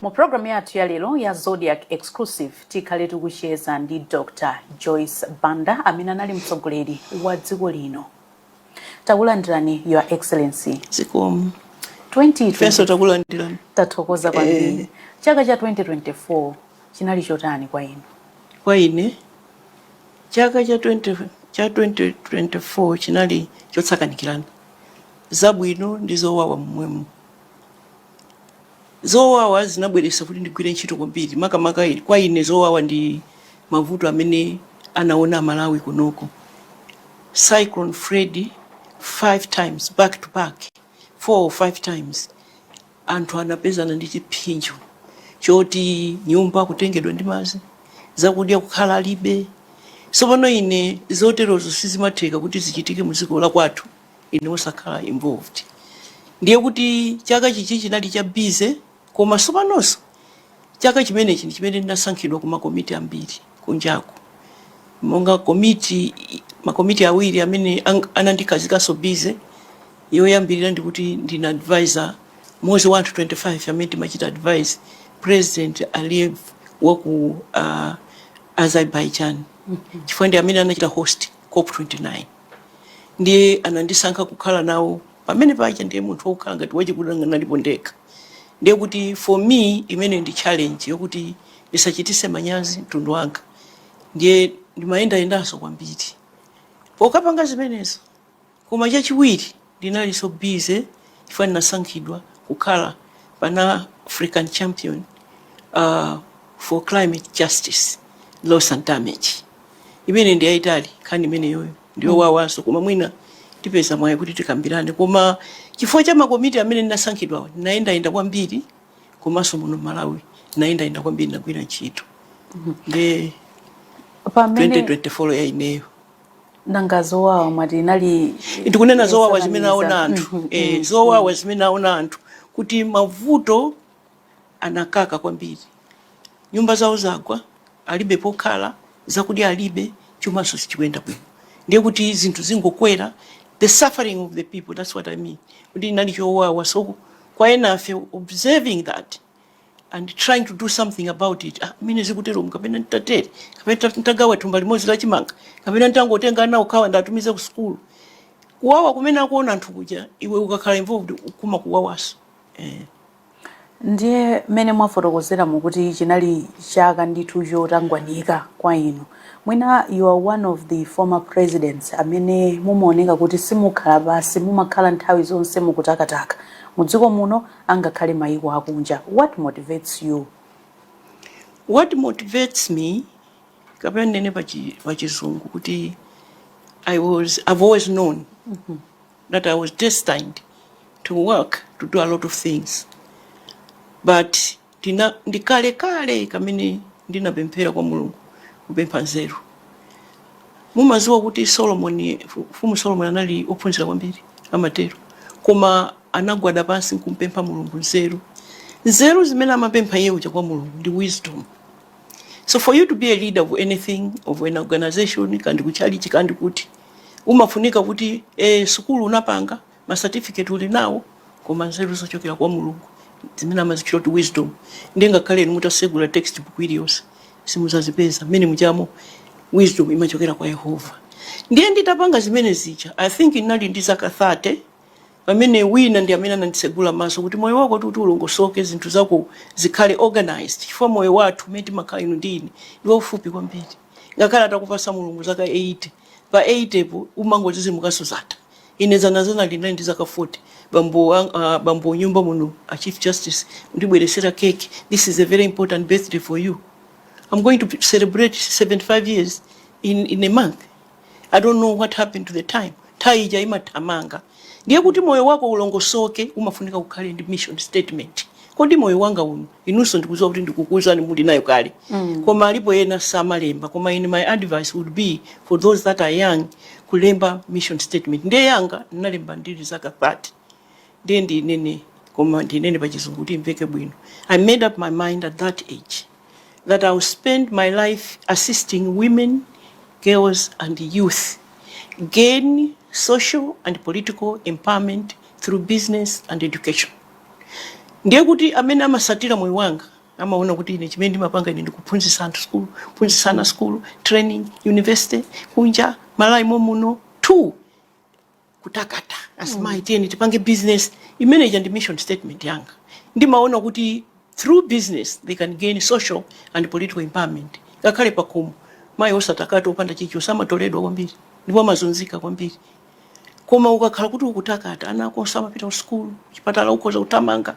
Mu program yathu ya lero ya Zodiac Exclusive tikhale tikucheza ndi Dr. Joyce Banda amene anali mtsogoleri wa dziko lino. Takulandirani Your Excellency. zikomo 2025nso takulandirani tathokoza kwambiri. Eh. Chaka cha 2024 chinali chotani kwa inu? kwa ine Chaka cha 20 cha 2024 chinali chosakanikirana, zabwino ndi zowawa momwemo. Zowawa zinabweretsa kuti ndigwire ntchito kwambiri, makamaka i- kwa ine zowawa ndi mavuto amene anaona Amalawi kunoko. Cyclone Freddy five times back to back, four or five times. Anthu anapezana ndi chipsinjo choti nyumba kutengedwa ndi madzi, zakudya kukhala alibe. Tsopano ine zoterozo sizimatheka kuti zichitike mu dziko la kwathu ine osakhala involved. Ndiye kuti chaka chichi chinali cha busy koma tsopanonso. Chaka chimenechi ndi chimene ndinasankhidwa ku makomiti ambiri kunjaku, monga komiti, makomiti awiri amene anandikhazikanso busy. Yoyambirira ndi kuti ndine advisor mmodzi wa anthu 25 amene timachita advise President Aliyev wa ku uh, Azerbaijan chifukwa ndi amene anachita host COP29 ndiye anandisankha kukhala nawo Pamene paja ndiye munthu wokhala ngati wachikuda ndinalipo ndekha. Ndiye kuti for me imene ndi challenge yokuti ndisachitise manyazi mtundu wanga. Ndiye ndimayendayendanso kwambiri pokapanga zimenezo. Koma chachiwiri ndinalinso busy chifukwa ndinasankhidwa kukhala Pan African champion uh, for climate justice loss and damage. Imene ndi yayitali nkhani imeneyoyo. ndi yowawanso koma mwina tipeza mwayi kuti tikambirane koma chifukwa cha makomiti amene ndinasankhidwawo ndinayendayenda kwambiri komanso muno m'Malawi ndinayendayenda kwambiri ndinagwira ntchito nde pamene 2024 ya ineyo nanga zowawa mwati inali ndikunena zowawa zimene aona anthu eh, zowawa zimene aona anthu kuti mavuto anakaka kwambiri. Nyumba zawo zagwa, alibe pokhala, zakudya alibe, chumanso sichikuyenda bwino. Ndiye kuti zinthu zingokwera, the suffering of the people, that's what I mean, kuti inali chowawa. So kwa enafe observing that and trying to do something about it, ah, mmene zikutero kapena nditatere kapena nditagawa thumba limodzi la chimanga kapena nditangotenga ana okhawo ndatumiza ku sukulu kuwawa kumene akuona anthu kuja iwe ukakhala involved kumakuwawanso eh. Ndiye mmene mwafotokozeramo kuti chinali chaka ndithu chotangwanika kwa inu, mwina you are one of the former presidents amene mumaoneka kuti simukhala pansi, mumakhala nthawi zonse mukutakataka, mu dziko muno angakhale mayiko akunja. What motivates you? What motivates me, kapena ndinene pa chizungu kuti I was, I've always known. that I was destined to work to do a lot of things but ndi kale kale kamene ndinapemphera kwa mulungu kupempha nzeru mumaziwa kuti solomoni mfumu solomoni anali ophunzira kwambiri amatero koma anagwada pansi nkumpempha mulungu nzeru nzeru zimene amapempha iye uja kwa mulungu ndi wisdom so for you to be a leader of anything of an organization kandi kuchalichi kandi kuti umafunika kuti e, sukulu unapanga ma certificate uli nawo koma nzeru zochokera kwa mulungu zimene amazitchula kuti wisdom ndiye ngakhale inu mutasegula textbook iliyonse simuzazipeza mmene mujamo wisdom imachokera kwa yehova ndiye nditapanga zimene zija i think ndinali ndi zaka 30 pamene wina ndi amene ananditsegula maso kuti moyo wako kuti ulongosoke zinthu zako zikhale organized chifukwa moyo wathu umene timakhala inu ndi ine ndi waufupi kwambiri ngakhale atakupasa mulungu zaka 80 pa 80 po umangozizimuka so zatha ine zanazana ndinali ndi zaka 40 bambo, ang- ah, bambo nyumba muno a chief justice andibweresera keke this is a very important birthday for you i'm going to celebrate 75 years in, in a month i don't know what happened to the time nthawi ija imathamanga ndiye kuti moyo wako ulongosoke umafunika ukhale ndi mission statement kodi moyo wanga uno inunso ndikuziwa kuti ndikukuuzani muli nayo kale mm. koma alipo ena samalemba koma my advice would be for those that are young kulemba mission statement ndiye yanga ndinalemba ndili zaka 30 ndiye ndinene koma ndinene pachizungu kuti imveke bwino i made up my mind at that age that i will spend my life assisting women girls and youth gain social and political empowerment through business and education ndiye kuti amene amasatira moyo wanga amaona kuti ine chimene ndimapanga ine ndikuphunzitsa anthu skulu kuphunzitsa ana skulu training university kunja malawi momuno two kutakata azimayi mm. tiyeni tipange business imene ija ndi mission statement yanga ndimaona kuti through business they can gain social and political empowerment ngakhale pakhomo mayi osatakata opanda chake samatoledwa kwambiri ndipo amazunzika kwambiri koma ukakhala kuti ukutakata ana akonso amapita ku sukulu kuchipatala ukhoza kuthamanga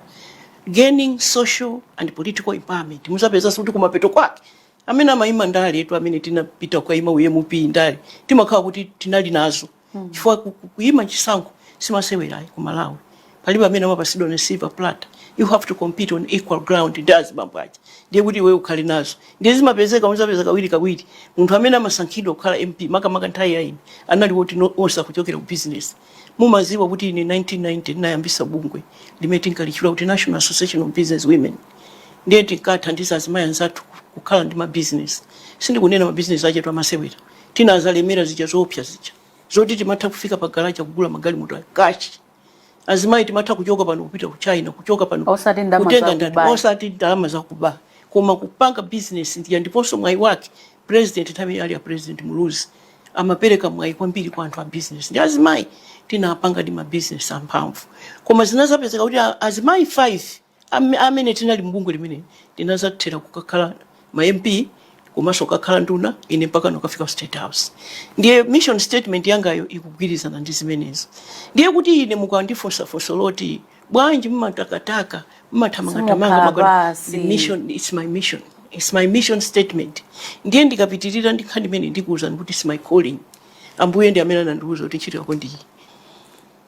gaining social and political empowerment muzapezanso kuti kumapeto kwake amene amayima ndale etu amene tinapita kukayima u MP ndale timakhala kuti tinali nazo chifukwa ku- ku- kuyima chisankho si masewera ayi ku malawi Palibe amene amapatsidwa on a silver platter, you have to compete on equal ground ndi azibambo aja ndiye kuti iweyo ukhale nazo ndiye zimapezeka muzapeza kawiri kawiri munthu amene amasankhidwa kukhala mp makamaka nthawi ya ine anali woti no, onse akuchokera ku business mumadziwa kuti ine 1990 ndinayambisa bungwe limene tinkalitchula kuti national association of business women ndiye tinkathandiza azimayi anzathu kukhala ndi mabizinesi sindikunena mabizinesi achetu amasewera tinadzalemera zija zoopsa zija zoti timatha kufika pa garage kugula magalimoto cash azimayi timatha kuchoka pano kupita ku china kuchoka pano Osati ndalama kutenga za ndati kuba. osati ndalama zakuba koma kupanga business ndiye ndiponso mwayi wake president nthawi imene ali ya president muluzi amapereka mwayi kwambiri kwa anthu a business ndi azimayi tinapangadi ma business amphamvu koma zinadzapezeka kuti a- azimayi 5 Am- amene tinali mubungwe limeneli tinadzathera kukakhala ma mp komanso kukakhala nduna ine mpaka n'kukafika ku state house ndiye mission statement yangayo ikugwirizana ndi zimenezo ndiye kuti ine mukandifunsa funso loti bwanji mmatakataka mmathamangathamanga Simukhala maka- basi. the mission it's my mission it's my mission statement ndiye ndikapitirira ndi nkhani imene ndikuwuzani kuti it's my calling ambuye ndi amene anandiwuza kuti ntchito yako ndiyi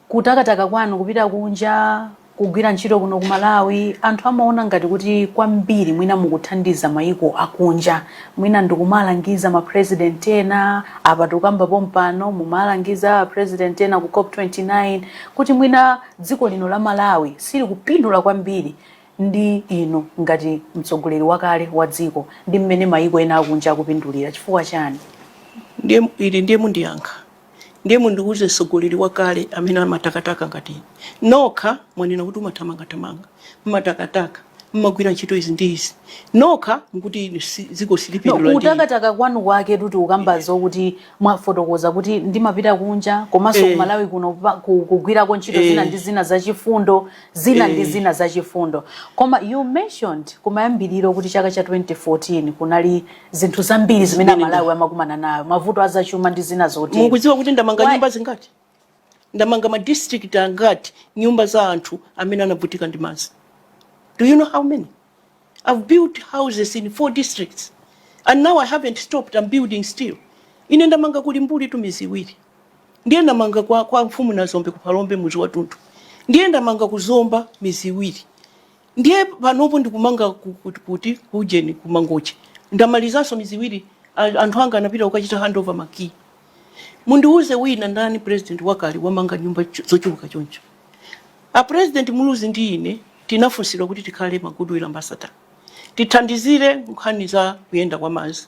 Kutakataka kwanu kupita kunja kugwira ntchito kuno ku Malawi anthu amaona ngati kuti kwambiri mwina mukuthandiza maiko akunja. Mwina ndikumalangiza ma president ena, apa tikukamba pompano mmalangiza a president ena ku cop 29 kuti mwina dziko lino la Malawi silikupindula kwambiri ndi inu ngati mtsogoleri wakale wa dziko ndi mmene maiko ena akunja akupindulira. Chifukwa chani? Ndiye ili ndiye mundiyankha. Ndiye mundiuze mtsogoleri wakale amene amatakataka ngati inu. Nokha mwanena kuti mmathamangathamanga, mmatakataka, mmagwira ntchito izi ndi izi. Nokha mukuti inu si- dziko No, silipindula ndi inu. kutakataka kwanu kwake kuti mukamba zokuti mwafotokoza kuti ndimapita kunja komanso Eh. ku Malawi kuno pa- ku- kugwirako ntchito Eh. zina ndi zina zachifundo zina ndi Eh. zina zachifundo koma you mentioned kumayambiriro kuti chaka cha 2014 kunali zinthu zambiri zimene Zimene amalawi amakumana nazo mavuto azachuma ndi zina zotero mukudziwa kuti ndamanga Why- nyumba zingati ndamanga ma district angati nyumba za anthu amene anavutika ndi madzi do you know how many i've built houses in four districts and now i haven't stopped i'm building still ine ndamanga ku Limbuli two mizi iwiri ndiye ndamanga kwa, kwa mfumu Nazombe ku Phalombe muzi wathunthu ndiye ndamanga ku zomba mizi iwiri Ndiye panopo ndikumanga ku, ku, kuti ku ujeni ku Mangochi. Ndamalizanso mizi iwiri. a- Anthu anga anapita kukachita handover makiyi. Mundiwuze wina ndani president wakale wamanga nyumba cho- zochuluka choncho. A president Muluzi ndi ine tinafunsidwa kuti tikhale ma goodwill ambassador. Tithandizire nkhani za kuyenda kwa madzi.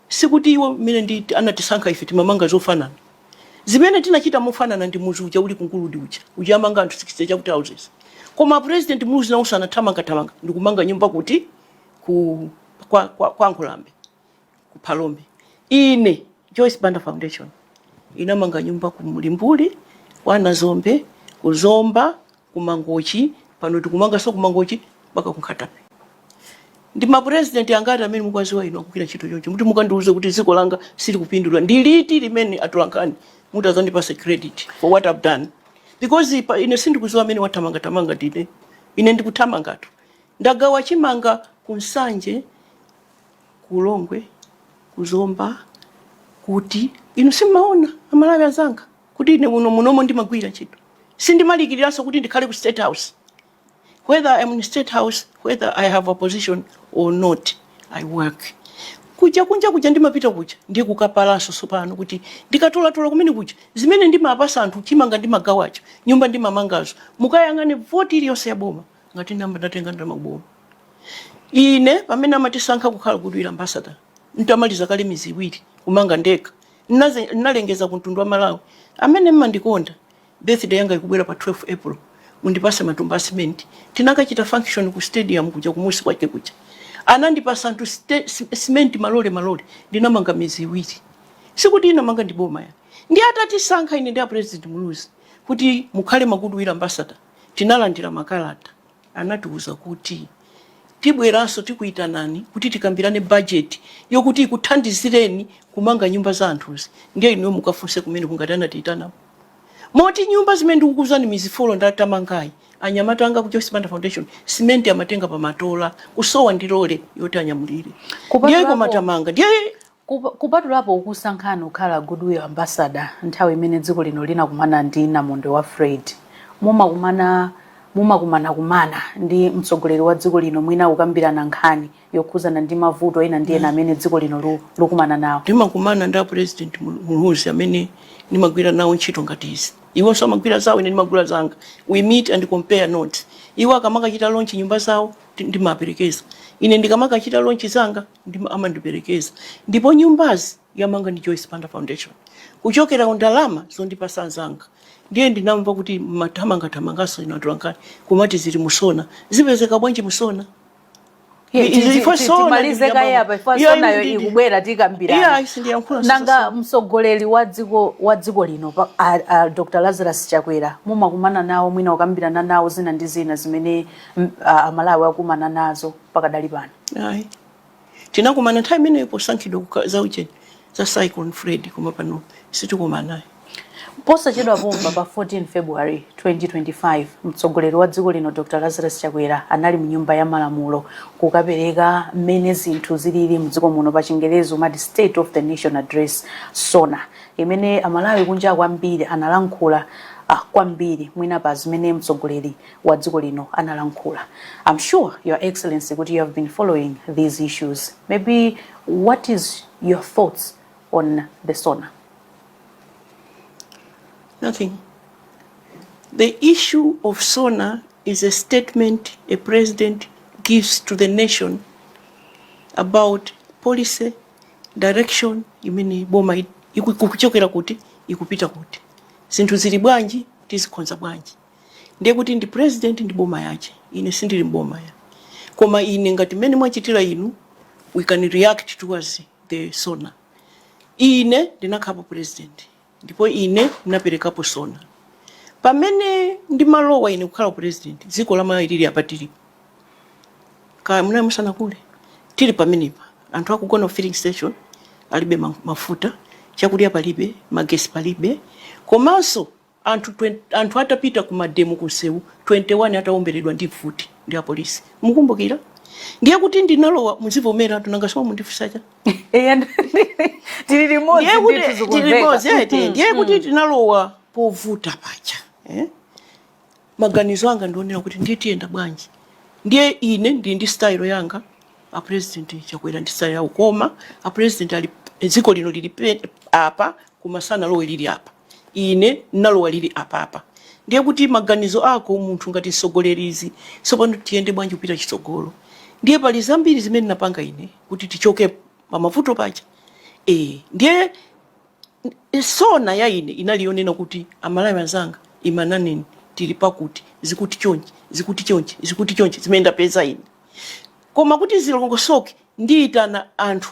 Sikuti iwo mmene ndi anatisankha ife timamanga zofanana. Zimene tinachita mofanana ndi muzi uja uli ku Nguludi uja, uja amanga anthu 60 chakuti houses. Koma a president muluzi nawonso anathamanga thamanga ndi kumanga nyumba kuti ku kwa kwa, kwa Nkhulambe ku Phalombe. Ine Joyce Banda Foundation inamanga nyumba ku Mulimbuli, kwa Nazombe, ku Zomba, ku Mangochi, pano tikumanganso ku Mangochi mpaka ku Nkhatabay. Ndi ma president angati amene mukuwaziwa inu akugwira ntchito chonchi? Muti mukandiuze kuti dziko langa silikupindula, ndi liti limene atolankhani mutazandipasa credit for what I've done? Because pa, ine sindikuziwa amene wathamanga thamanga ndine. Ine ndikuthamangatu. Ndagawa chimanga ku Nsanje, ku Longwe, ku Zomba, kuti inu simmaona amalawi azanga. kuti ine kuno munomo ndimagwira ntchito sindimalikiriranso kuti ndikhale ku state house whether I'm in state house whether i have a position or not i work kuja kunja kuja ndimapita kuja ndiye kukapalanso tsopano kuti ndikatolatola kumene kuja zimene ndimapasa anthu chimanga ndimagawacho nyumba ndimamangazo mukayang'ane voti iliyonse ya boma ngati namba ndatenga ndamaboma ine pamene amatisankha kukhala goodwill ambassador ntamaliza kale mizi iwiri kumanga ndekha Nnaze nnalengeza ku mtundu wa Malawi amene mmandikonda, birthday yanga ikubwera pa 12 April, mundipase matumba a cement. Tinakachita function ku stadium kuja kumusi kwake kuja. Anandipasa anthu ste, si, cement malole malole. Ndinamanga mizi iwiri. Sikuti inamanga ndi boma ya. Ndiye atatisankha ine ndi a President Muluzi kuti mukhale ma goodwill ambassador, tinalandira makalata. Anatiuza kuti, Tibweranso tikuitanani kuti tikambirane bajeti yokuti ikuthandizireni kumanga nyumba za anthuzi ndiye inuyo mukafunse kumeneko ngati anatiitananso. Moti nyumba zimene ndikukuuzani mizi folo ndatamangayi, anyamata anga ku Joyce Banda Foundation, simenti amatenga pa matola kusowa ndi lole yoti anyamulire. Ndiye koma tamanga. Ndiye Kup, kupatulapo kukusankhani kukhala Goodwill Ambassador nthawi imene dziko lino linakumana ndi namondwe wa Fred, mumakumana mumakumanakumana ndi mtsogoleri wa dziko lino mwina kukambirana nkhani yokhuzana ndi mavuto ena ndi ena amene dziko lino lu, lukumana nawo? Ndimakumana ndi a President Mul- Muluzi amene ndimagwira nawo ntchito ngati izi. Iwonso amagwira zawo ine ndimagwira zanga. We meet and compare notes. Iwo akamakachita launch nyumba zawo ndi- ndimaperekeza. Ine ndikamakachita launch zanga ndim amandiperekeza ndipo nyumbazi yamanga ndi Joyce Banda Foundation kuchokera ku ndalama zondipasa anzanga ndiye ndinamva kuti mathamangathamangaso inu atolankhani kumati zili mu SONA zipezeka bwanji mu SONA Ye, Ndi- ti- ndi- ti- ifo ti- sona timalize ndi kaye. apa ifo Iya, sonayo ndi- ndi- ikubwera Iya, tikambirana isi ndiyankhula nanga sasa. mtsogoleri wa dziko wa dziko lino pa- a- a dr lazarus chakwera mumakumana nawo mwina kukambirana nawo zina ndi zina zimene mm, a- amalawi akumana nazo pakadali pano ayi tinakumana nthawi imeneyo posankhidwa kuka- za ujeni za cyclone freddy koma pano sitikumana nawo posachedwa pompa pa 14 february 2025 mtsogoleri wa dziko lino dr lazarus chakwera anali mu nyumba ya malamulo kukapereka mmene zinthu zilili mdziko muno pa chingerezi umati state of the nation address sona imene amalawi kunjaku ambiri analankhula ah, kwambiri mwina pa zimene mtsogoleri wa dziko lino analankhula i'm sure your excellency kuti you have been following these issues maybe what is your thoughts on the sona nothing the issue of sona is a statement a president gives to the nation about policy direction imene boma i- iku- ikuchokera kuti ikupita kuti zinthu zili bwanji tizikonza bwanji ndiye kuti ndi president ndi boma yache ine sindili mboma eya koma ine ngati mmene mwachitira inu we can react towards the sona ine ndinakhalapo president ndipo ine ndinaperekapo sona pamene ndimalowa ine kukhala president dziko la malawi lili apa tilipo kaya munali musanakule tili pamenepa anthu akugona ku filling station alibe ma- mafuta chakudya palibe magesi palibe komanso Anthu twen anthu atapita ku mademo ku nsewu 21 atawomberedwa ndi mfuti ndi apolisi mukumbukira? Ndiye kuti ndinalowa muzivomeratu nanga simumundifunsa chani? Eya tili limodzi Ndiye kuti ndithu tili limodzi zikumveka. eti ndiye kuti tinalowa povuta paja eh? Maganizo anga ndi onena kuti ndiye tiyenda bwanji? Ndiye ine ndi ndi style yanga a president chakwera ndi style yawo koma a president ali dziko lino lili pe- apa koma sanalowe lili apa ine nalowa lili apapa ndiye kuti maganizo ako munthu ngati msogoleri ndi zoti tsopano tiyende bwanji kupita chitsogolo ndiye pali zambiri zimene napanga ine kuti tichoke pamavuto paja e, ndiye sona ya ine inali yonena kuti amalawi anzanga imani naneni tili pakuti zikuti chonchi zikuti chonchi zikuti chonchi zimene ndapeza ine koma kuti zilongosoke ndiyitana anthu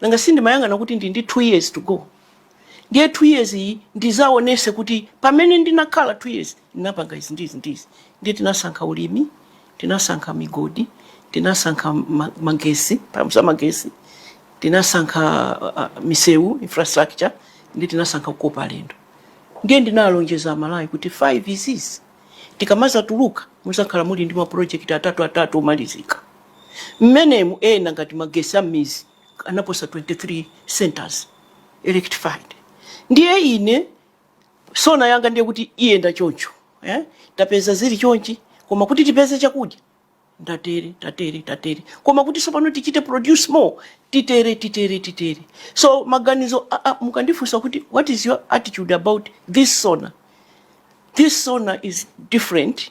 nanga si ndimayang'ana kuti ndi ndi 2 years to go ndiye 2 years iyi ndizaonese kuti pamene ndinakhala 2 years ndinapanga izi ndizi ndizi ndiye tinasankha ulimi tinasankha migodi tinasankha ma- magesi mphamvu za magesi tinasankha uh, uh, misewu infrastructure ndiye tinasankha kukopa alendo ndiye ndinalonjeza amalawi kuti 5 izizi tikamazatuluka muzakhala muli ndi mapulojekiti atatu atatu omalizika Mmenemu ena ngati magesi a mmizi anaposa 23 centres electrified ndiye ine sona yanga ndiye kuti iyenda choncho eh? tapeza zili chonchi koma kuti tipeze chakudya ndatere tatere tatere koma kuti sopano tichite produce more titere titere titere so maganizo a- a- mukandifunsa kuti what is your attitude about this sona this sona is different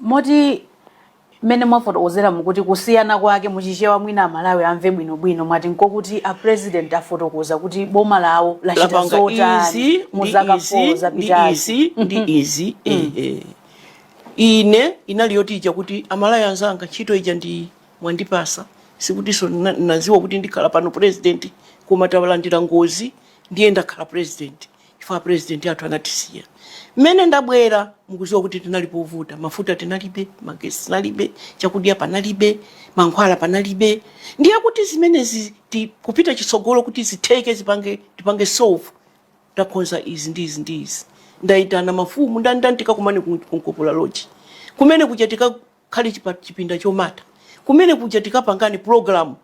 moti mmene mwafotokozera mukuti kusiyana kwake muchichewa mwina amalawi amve bwinobwino mwati nkokuti a president afotokoza kuti boma lawo lachita lapanga zotani izi mu ndi zaka izi 4 ndi zapitazi izi ndi izi eh, eh. ine inali yoti ija kuti amalawi anzanga ntchito ija ndi mwandipasa sikutinso na- naziwa kuti ndikhala pano president koma talandira ngozi ndiye ndakhala president chifukwa president athu anatisiya mmene ndabwera mukuziwa kuti tinali povuta mafuta tinalibe magesi tinalibe chakudya panalibe mankhwala panalibe ndiye kuti zimenezi kupita chitsogolo kuti zitheke zipange tipange solve takonza izi ndi izi ndi izi ndayitana mafumu ndandani tikakumane ku Nkopola Lodge kumene kuja khale chipinda chomata kumene kuja tikapangane programyo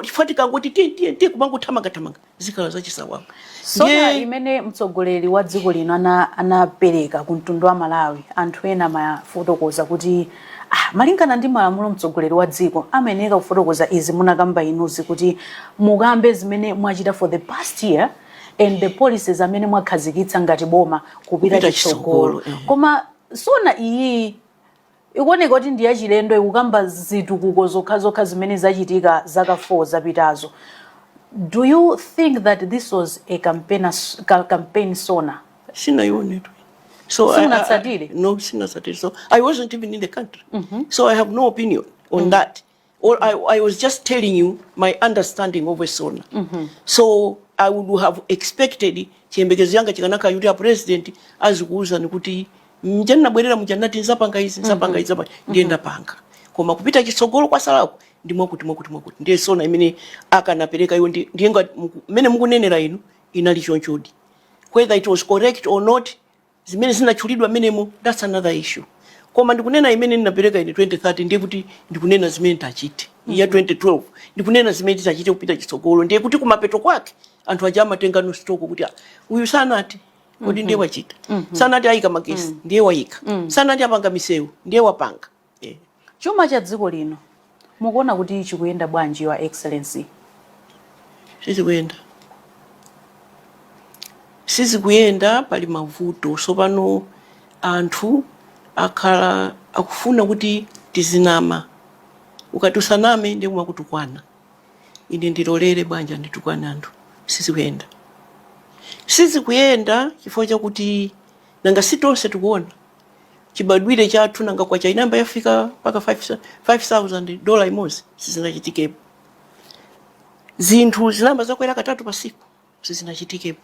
chifukwa tikangoti tiye tiye tiye kumangothamanga thamanga zikhala zachisawawa sona imene mtsogoleri wa dziko lino ana- anapereka ku mtundu wa malawi anthu ena amafotokoza kuti ah, malingana ndi malamulo mtsogoleri wa dziko amayeneka kufotokoza izi munakamba inuzi kuti mukambe zimene mwachita for the past year and the policies amene mwakhazikitsa ngati boma kupita Kupita chitsogolo chitsogolo, eh. koma sona iyi ikuoneka kuti ndi yachilendo ikukamba zitukuko zokhazokha zimene zachitika zaka 4 zapitazo do you think that this was a campaign, ca- campaign sona Sinaionetu. So I- I- Sinatsatire? I- no, sinatsatire. So I wasn't even in the country. So I have no opinion on that. Or I, I was just telling you my understanding of a sona. Mm -hmm. So I would have expected chiyembekezo changa chikanakhala kuti a president azikuwuzani kuti mja ndinabwerera muja ndinati nzapanga izi nzapanga izi nzapanga mhm. ndiye ndapanga koma kupita chitsogolo kwasalako ndi mwakuti mwakuti mwakuti ndiye sona imene akanapereka iwo ndiye ngati mmene mukunenera inu inali chonchodi whether it was correct or not Zimene zinatchulidwa mmenemo, that's another issue. Koma ndikunena imene ndinapereka ine 2013 ndiye kuti ndikunena zimene nditachite. Mm -hmm. Ya 2012 ndikunena zimene titachite kupita chitsogolo ndiye kuti kumapeto kwake anthu aja amatengano stock kuti ah, uyu sanati kodi mm -hmm. ndiye mhm. wachita mm -hmm. sanati ayika magesi mm -hmm. ndiye wayika mm -hmm. sanati apanga misewu ndiye wapanga Chuma cha dziko lino mukuona kuti chikuyenda bwanji your excellency? Sichikuyenda. Sizikuyenda pali mavuto sopano anthu akhala akufuna kuti tizinama ukati usaname ndiye amakutukwana ine ndilolere bwanji anditukwane anthu sizikuyenda. Sizikuyenda chifukwa chakuti nanga si tonse tikuona. chibadwire chathu nanga kwacha inayamba yafika mpaka 5000 dola imodzi sizinachitikepo zinthu zinayamba zakwera katatu pasiku sizinachitikepo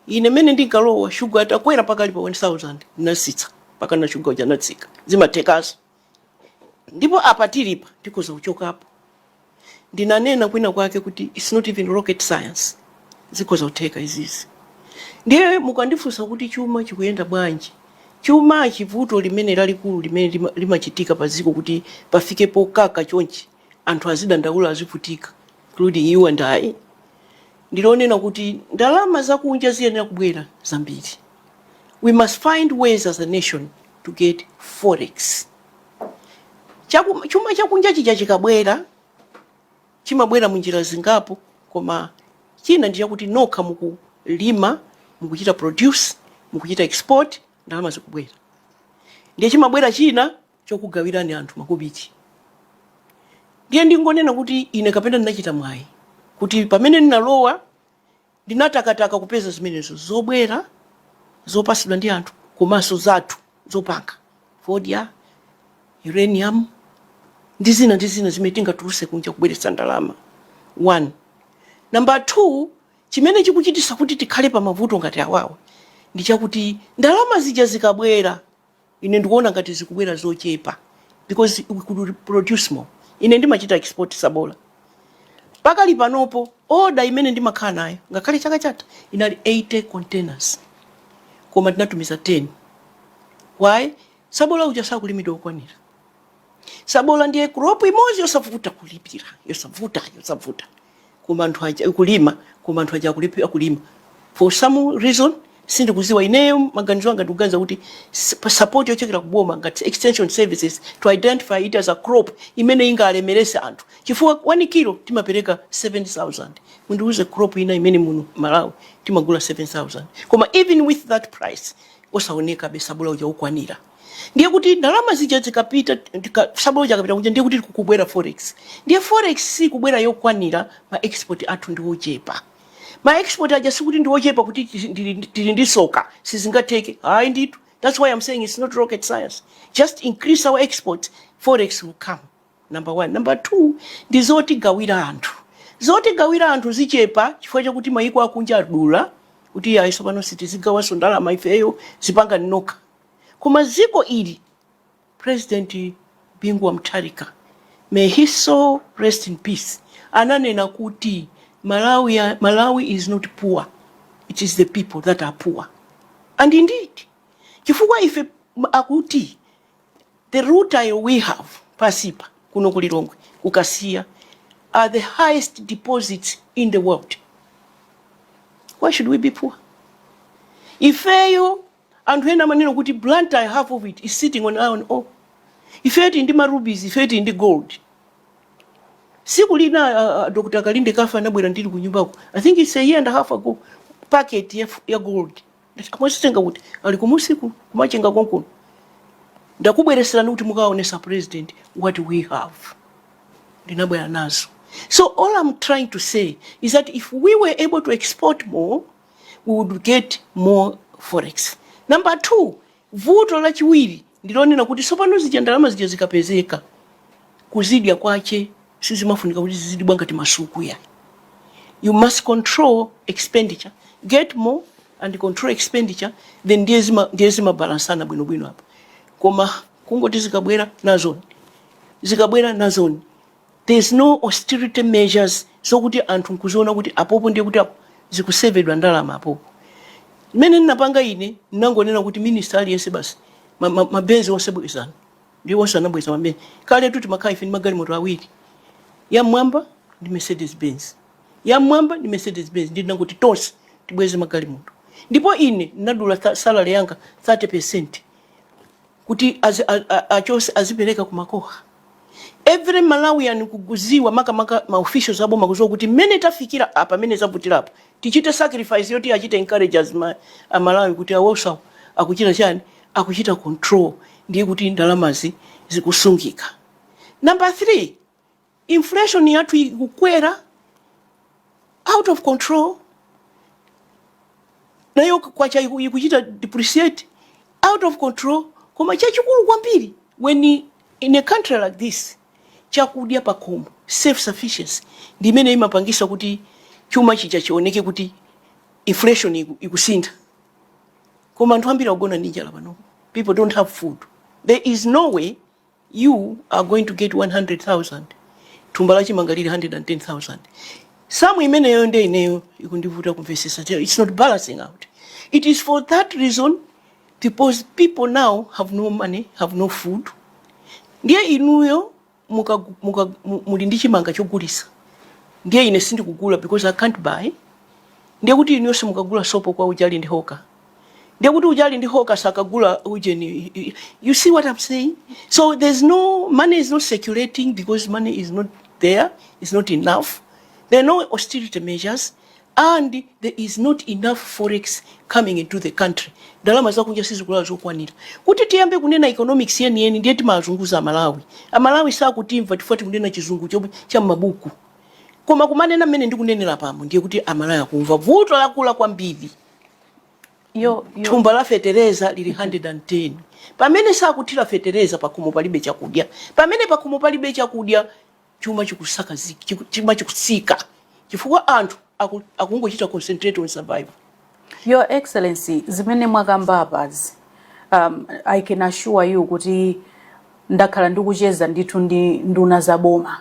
ine mene ndinkalowa shuga atakwera mpaka ali pa 1000 nasitsa mpaka shuga uja natsika zimathekaso Ndipo apa tilipa, tikhoza kuchokapo. Ndinanena kwina kwake kuti it's not even rocket science. Zikhoza kutheka izizi. Ndiye mukandifunsa kuti chuma chikuyenda bwanji? Chuma chivuto limene lalikulu limene limachitika pa dziko kuti pafike pokaka chonchi anthu azidandaula azivutika including you and I ndilonena kuti ndalama zakunja ziyenera kubwera zambiri we must find ways as a nation to get forex chuma chakunja chija chikabwera chimabwera munjira zingapo koma china ndi chakuti nokha mukulima mukuchita produce mukuchita export ndalama zikubwera ndiye chimabwera china chokugawirani anthu makobiti ndiye ndingonena kuti ine kapena ndinachita mwayi kuti pamene ndinalowa Ndinatakataka kupeza zimenezo zobwera zopatsidwa ndi anthu komanso zathu zopanga, fodya, uranium, ndi zina ndi zina zimene tingatulutse kunja kubweretsa ndalama, 1. Number 2, chimene chikuchititsa kuti tikhale pa mavuto ngati awawa ndi chakuti ndalama zija zikabwera, Ine ndikuona ngati zikubwera zochepa because we could produce more. Ine ndimachita export sabola. Pakali panopo order imene ndimakhala nayo ngakhale chaka chatha inali 80 containers koma tinatumiza 10. Why? Sabola uja sakulimidwa okwanira. sabola ndiye crop imodzi yosavuta kulipira yosavuta yosavuta koma anthu aja kulima koma anthu aja kulipira kulima for some reason sindikuziwa ineyo maganizo anga ndikuganiza kuti support yochokera kuboma ngati extension services to identify it as a crop imene ingalemerese anthu chifukwa 1 kilo timapereka 7000 mundiuze crop ina imene muno malawi timagula 7000 koma even with that price osaonekabe sabola uja kukwanira ndiye kuti ndalama zija zikapita tika- sabola uja akapita kunja ndiye kuti kukubwera forex ndiye forex sikubwera yokwanira ma export athu ndi ochepa ma export aja sikuti ndi ochepa kuti tili- ndili ndili ndi soka sizingateke hayi ndithu that's why i'm saying it's not rocket science just increase our export forex will come number one number two ndi zotigawira anthu zotigawira anthu zikuchepa chifukwa chakuti mayiko akunja adula kuti ayi sopano sitizigawanso ndalama ifeyo zipanga nokha Koma dziko ili President Bingu Wa Mutharika may his soul rest in peace ananena kuti Malawi is not poor it is the people that are poor and indeed chifukwa ife akuti the rutile we have pansipa kuno ku Lilongwe ku Kasiya are the highest deposits in the world why should we be poor ifeyo Anthu ena amanena kuti Blantyre half of it is sitting on iron ore. Ifeyo tili ndi ma rubies, ifeyo tili ndi gold. Siku lina uh, uh, Dr. Kalinde Kafa anabwera ndili ku nyumbako. I think it's a year and a half ago. Packet ya, ya gold. Akuti ndazitenga kuti ali kumsika kuMachinga konkuno. Ndakubweretserani kuti mukaonetse president what we have. Ndinabwera nazo. So all I'm trying to say is that if we were able to export more we would get more forex. Number two, vuto lachiwiri ndilonena kuti sopano zija ndalama zija zikapezeka kuzidya kwache sizimafunika kuti zizidibwa ngati masuku iyayi you must control expenditure get more and control expenditure then ndiye zimabalansana bwino bwino apo koma kungoti zikabwera nazoni zikabwera nazoni There's no austerity measures zokuti anthu nkuziona kuti apopo ndiye kuti apo zikusevedwa ndalama apopo. Mmene ndinapanga ine ndinangonena kuti minister aliyense basi ma- ma- mabenzi onse bwezani ndi onse anabweza mabenzi kaletu timakhala ife ndi magalimoto awiri yamwamba ndi mercedes benz yamwamba ndi mercedes benz ndi ndinangoti tonse tibweze magalimoto ndipo ine ndinadula tha- salary yanga 30 percent kuti azi, a, a, achose azipereka ku MACOHA every malawian akuziwa makamaka ma officials aboma akuziwa kuti mmene tafikira apa mmene zavutirapo tichite sacrifice yoti ichite encourage a ma, aMalawi kuti awonso akuchita chani akuchita control ndiye kuti ndalamazi zikusungika number 3 Inflation yathu ikukwera out of control, nayo kwacha ikuchita depreciate out of control, koma chachikulu kwambiri when in a country like this chakudya pakhomo self sufficiency ndi imene imapangisa kuti chuma chija chioneke kuti inflation ikusintha, koma anthu ambiri akugona ndi njala pano, people don't have food, there is no way You are going to get 100,000 thumba la chimanga lili 110,000 samu imeneyo nde ineyo ikundivuta kumvesesa Tell- it's not balancing out it is for that reason because people now have no money have no food ndiye inuyo muka, muka, mu- muli ndi chimanga chogulisa ndiye ine sindikugula because i can't buy ndiye kuti inuyo simukagula sopo kwa uja ali ndi hoka ndiye kuti uja ali ndi hoka sakagula ujeni you see what i'm saying so there's no money is not circulating because money is not there is not enough there are no austerity measures and there is not enough forex coming into the country ndalama zakunja sizikulowa zokwanira kuti tiyambe kunena economics yeniyeni ndiye timazunguza amalawi amalawi sakutimva tikati kunena chizungu cha m'mabuku koma kumanena mmene ndikunenera pano ndiye kuti amalawi akumva vuto lakula kwambiri yo, yo. thumba la fetereza lili 110 pamene sakuthira fetereza pakhomo palibe chakudya pamene pakhomo palibe chakudya chuma chikusakazi- chiku- chuma chikusika chifukwa anthu aku- akungochita concentrate on survival Your Excellency, zimene mwakamba apazi, um, I can assure you kuti ndakhala ndikucheza ndithu ndi nduna za boma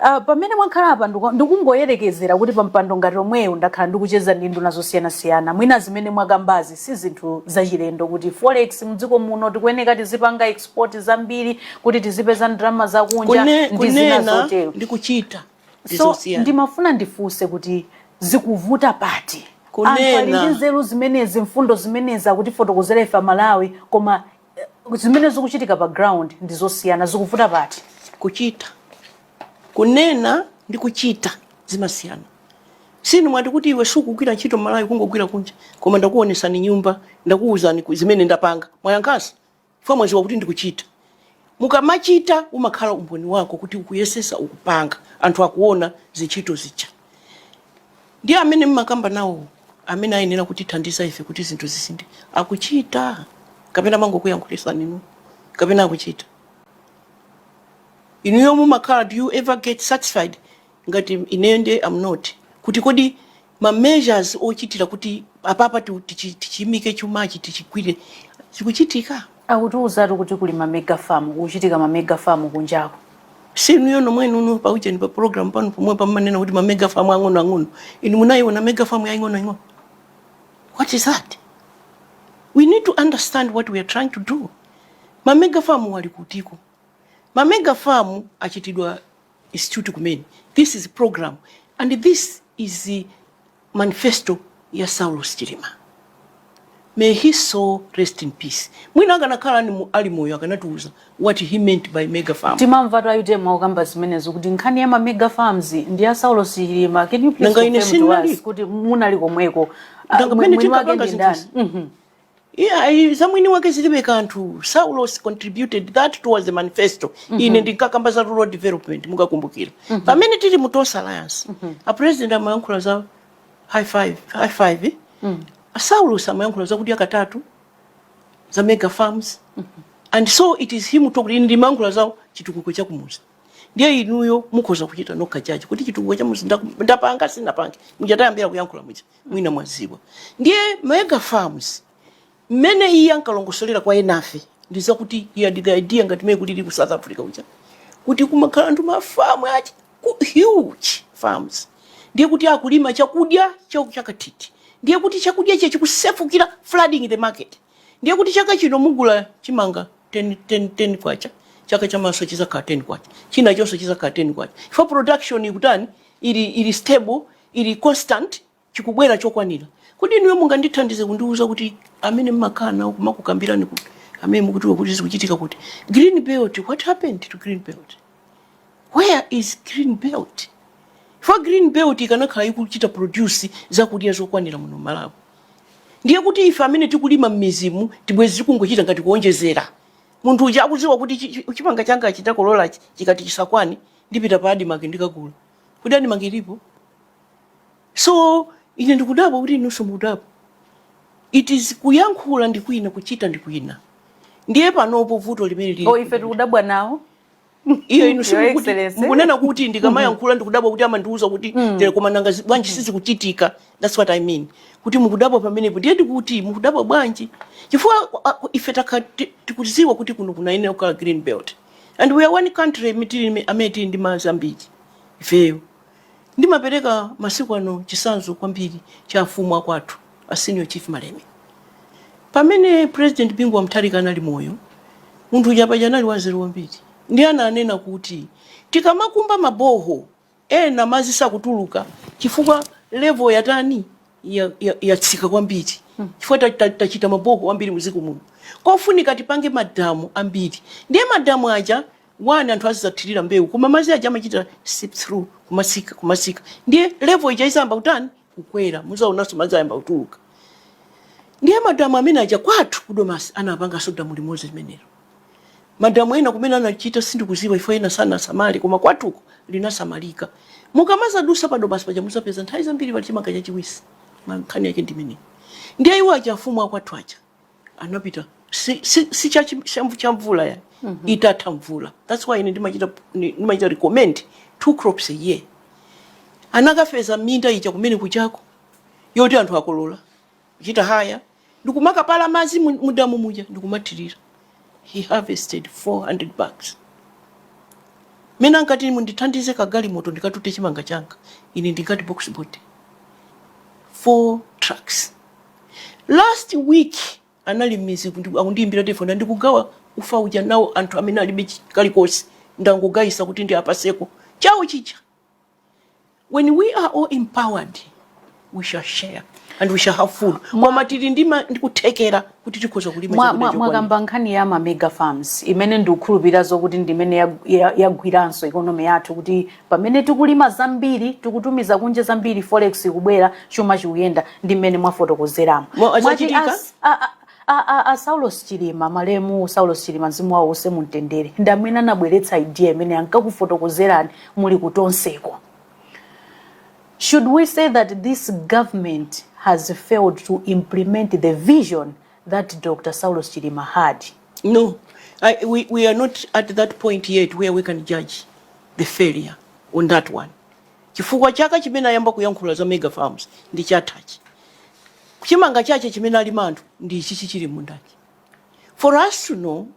Uh, pamene mwakhala apa ndikungoyerekezera kuti pa mpando ngati omwewo ndakhala ndikucheza ndi nduna zosiyanasiyana mwina zimene mwakambazi si zinthu zachilendo kuti forex mdziko muno tikuyeneka tizipanga export zambiri kuti tizipeza ndalama zakunja ndi zina zotero ndi kuchita so ndimafuna ndifunse kuti zikuvuta pati anthu ali ndi nzeru zimenezi mfundo zimenezi akutifotokozera ife amalawi koma zimene zikuchitika pa ground ndi zosiyana zikuvuta pati kuchita kunena ndi kuchita zimasiyana si inu mwati kuti iwe sukugwira ntchito malawi kungogwira kunja koma ndakuonesani nyumba ndakuuzani ku- zimene ndapanga mwayankhaso chifukwa mwaziwa kuti ndikuchita mukamachita umakhala umboni wako kuti ukuyesesa ukupanga anthu akuona zintchito zija ndiye amene mmakamba nawo amene ayenera kutithandiza ife kuti zinthu zisinthe akuchita kapena amangokuyankhulisani inu kapena akuchita inuyo mumakhala do you ever get satisfied ngati ineyo nde am not kuti kodi ma measures ochitira kuti apapa tu- tichi- tichiimike chumachi tichigwire zikuchitika akutiuzatu kuti kuli ma mega farm kuchitika ma mega farm kunjako si inuyo nomwe inuyo pa ujeni pa program pano pomwe pamanena kuti ma mega farm ang'ono ang'ono inu munayiona mega farm ya ing'ono ing'ono what is that we need to understand what we are trying to do ma mega farm ali kutiko ma mega farm achitidwa institute kumene this is program and this is the manifesto ya saulos chilima may his soul rest in peace mwina akanakhala ali mo- ali moyo akanatiuza what he meant by mega farm timamvatu a utm akukamba zimenezo kuti nkhani ya ma mega farms ndi ya saulos chilima can you please Nanga ine confirm to us sindinali. kuti munali komweko. Ah, Nanga mwe- pamene mwini wake tinkapanga ndi ndani zinthuzi. Mhm. Iyayi, za mwini wake zilibe kanthu. Saulos contributed that towards the manifesto. Ine ndinkakamba za rural development, mukakumbukira. Pamene tili mu Tonse Alliance, a president amayankhula za high five, high five. eh? A Saulos amayankhula za kudya katatu, za mega farms. And so it is him talking in ndimayankhula za chitukuko cha kumuzi. Ndiye inuyo mukhoza kuchita nokha judge kuti chitukuko cha kumuzi ndaku- ndapanga sindinapange. Mujatayambira kuyankhula muja. Mwina mwadziwa ndiye Mega Farms mmene iye ankalongosolera kwa enafe ndi zakuti he had the idea ngati mmene kulili ku South Africa kuja kuti kumakhala anthu mafamu achi ku- huge farms ndiye kuti akulima chakudya chau chankatithi ndiye kuti chakudya chechi chikusefukira flooding the market ndiye kuti chaka chino mugula chimanga 10, 10, 10 kwacha chaka chamawanso chizakhala 10 kwacha chinachonso chizakhala 10 kwacha chifukwa production ikutani ili, ili stable ili constant chikubwera chokwanira kodi inuyo mungandithandize kundiuza kuti amene mmakhala nawo kumakukambirani kuti amene akukuuzani kuti zikuchitika kuti green belt what happened to green belt where is green belt chifukwa green belt ikanakhala ikuchita produce zakudya zokwanira muno mmalawi ndiye kuti ife amene tikulima mmidzimuti bwezi tikungochita ngati kuonjezera munthu uja akuziwa kuti chi- chi- chimanga changa nditakolola chikati chisakwane ndipita pa adimaki ndikagula kodi adimaki ilipo so ine ndikudabwa kuti inunso mukudabwa it is kuyankhula ndi kwina kuchita ndi kwina ndiye panopo vuto limene lili oh, ife tikudabwa nawo iyo inu simukunena kuti ndikamayankhula ndikudabwa kuti amandiuza kuti mm. tere koma nanga bwanji mm. sizikuchitika that's what i mean kuti mukudabwa pamenepo ndiye ndikuti mukudabwa bwanji chifukwa ife timaziwa kuti kuno kunayenera kukhala green belt and we are one country imi tili imi- amene tili ndi madzi ambiri ifeyo ndimapereka masiku ano chisanzo kwambiri cha afumu akwathu a senior chief malemia pamene president bingu wa mutharika anali moyo munthu uja paja anali wanzeru kwambiri ndiye ananena kuti tikamakumba maboho Ena madzi sakutuluka chifukwa level yatani yatsika ya, ya kwambiri chifukwa tachita ta, ta maboho ambiri muziko muno kofunika tipange madamu ambiri ndiye madamu aja one anthu azidzathirira mbewu koma madzi aja amachita seep through kumatsika kumatsika ndiye level ija izayamba kutani kukwera muzaonanso madzi ayamba kutuluka ndiye madamu amene aja kwathu kudomasi anapanganso damu limodzi limenelo madamu ena kumene anachita sindikuziwa if ena sanasamali koma kwathuko linasamalika mukamazadusa padomasi paja muzapeza nthawi zambiri pali chimanga chachiwisi koma nkhani yake ndimeneyi ndiye iwo aja afumu akwathu aja anapita si, si, si cha, cha mvula ya mm -hmm. itatha mvula that's why ine ndimachita ndimachita recommend two crops a year anakapeza minda ija kumene kuchako yoti anthu akolola kuchita haya ndikumakapopa madzi mudamu muja ndikumathirira he harvested 400 bags mmene ankati mundithandize kagalimoto ndikatute chimanga changa ine ndingati box body four trucks Last week anali mmidzi kundiku- akundiyimbira telefoni ndikugawa ufa uja nawo anthu amene alibe chi- kalikonse angogayisa kuti ndiwapaseko chawo chija. When we are all empowered we shall share and we shall have food. Koma tili ndi ma- ndi kuthekera kuti tikhoza kulima Mwa- chakudya mwa- chokwanira. mwakamba nkhani ya ma mega farms imene ndikukhulupirira zokuti ndimene yag- ya- yagwiranso ikonomi yathu kuti Pamene tikulima zambiri tikutumiza kunja zambiri forex ikubwera chuma chikuyenda ndi mmene mwafotokozeramo. Mo- Mwati zachitika? as- a- a- a- a- a Saulos Chilima malemu Saulos Chilima mzimu wawo uuse mumtendere ndi amene anabweretsa idea imene ankakufotokozerani muli ku Tonseko. Should we say that this government has failed to implement the vision that Dr. Saulos Chilima had? No, I, we, we are not at that point yet where we can judge the failure on that one. Chifukwa chaka chimene ayamba kuyankhula za mega farms ndi chathachi. Chimanga chache chimene alima anthu ndi ichi chichili mmundachi. For us to know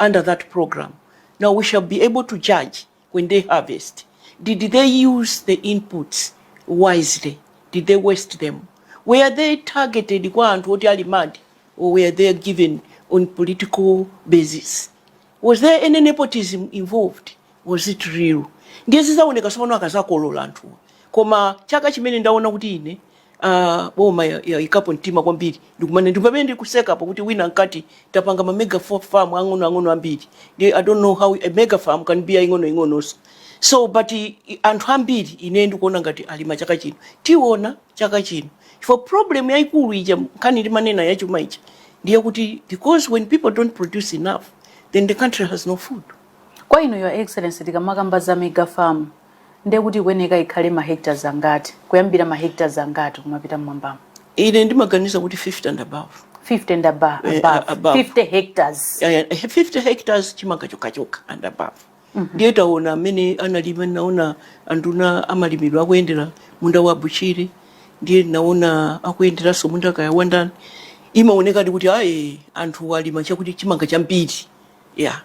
under that program. Now we shall be able to judge when they harvest. Did they use the inputs wisely? Did they waste them? Were they targeted kwa anthu oti ali mad or were they given on political basis? Was there any nepotism involved? Was it real? Ndiye zizaoneka sopano akazakolola anthuwa. Koma chaka chimene ndaona kuti ine ah, boma ya- yayikapo mtima kwambiri ndikumane ndi pamene ndikusekapo kuti wina ankati tapanga ma mega fa- farm ang'onoang'ono ambiri ndi i don't know how a mega farm can be yaing'onoing'ononso so but i- i- anthu ambiri ine ndikuona ngati alima chaka chino tiona chaka chino chifukwa problem yayikulu ija nkhani ndimanena yachuma ija ndiye kuti because when people don't produce enough then the country has no food Kwa inu your excellency tikamakamba za mega farm ndiye kuti ikuyeneka ikhale ma hectares angati kuyambira ma hectares angati kumapita mmwambamo ine ndimaganiza kuti 50 and above 50 and above, Eh, above. above. 50 hectares Eh, 50 hectares chimanga chokhachokha and above ndiye taona amene analima naona anduna amalimidwa akuyendera munda wa Bushiri ndiye naona akuyenderanso munda kaya wandani imaonekadi kuti ayi anthu alima chakuti chimanga chambiri Yeah.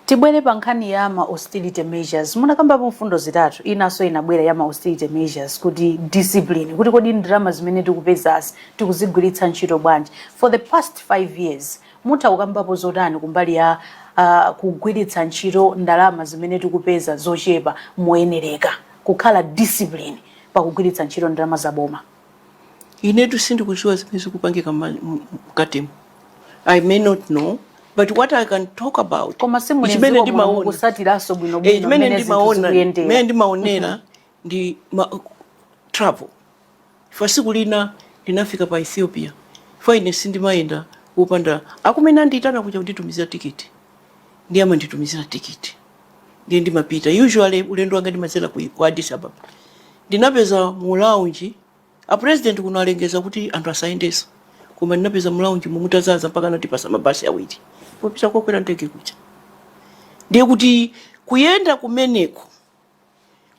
Tibwere pa nkhani ya ma austerity measures. Munakambapo mfundo zitatu, inanso inabwera ya ma austerity measures kuti discipline, kuti kodi ndalama zimene tikupezazi tikuzigwiritsa ntchito bwanji. For the past five years, mutha kukambapo zotani kumbali ya uh, kugwiritsa ntchito ndalama zimene tikupeza zochepa moyenereka, kukhala discipline pakagwiritsidwe ntchito ndalama za boma. inetu sindikudziwa zimene zikupangika mkatimo i may not know but what i can talk about koma simuli chimene ndimaona kutsatiranso bwino bwino chimene ndimaona mene ndimaonera mhm. ndi ma, travel chifukwa siku lina ndinafika pa ethiopia chifukwa ine sindimayenda kupanda a kumene andiyitana kuja kunditumizira tikiti ndiye amanditumizira tikiti ndiye ndimapita usually ulendo wanga ndimadzera ku ku addis ababa ndinapeza mu lounge a president kuno alengeza kuti anthu asayendenso koma ndinapeza mu lounge momo mutadzadza mpaka anatipatsa mabasi awiri popita kokwera ndege kuja ndiye kuti kuyenda kumeneko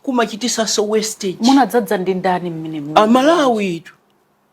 kumachititsanso wastage munadzadza ndi ndani mmenemo amalawitu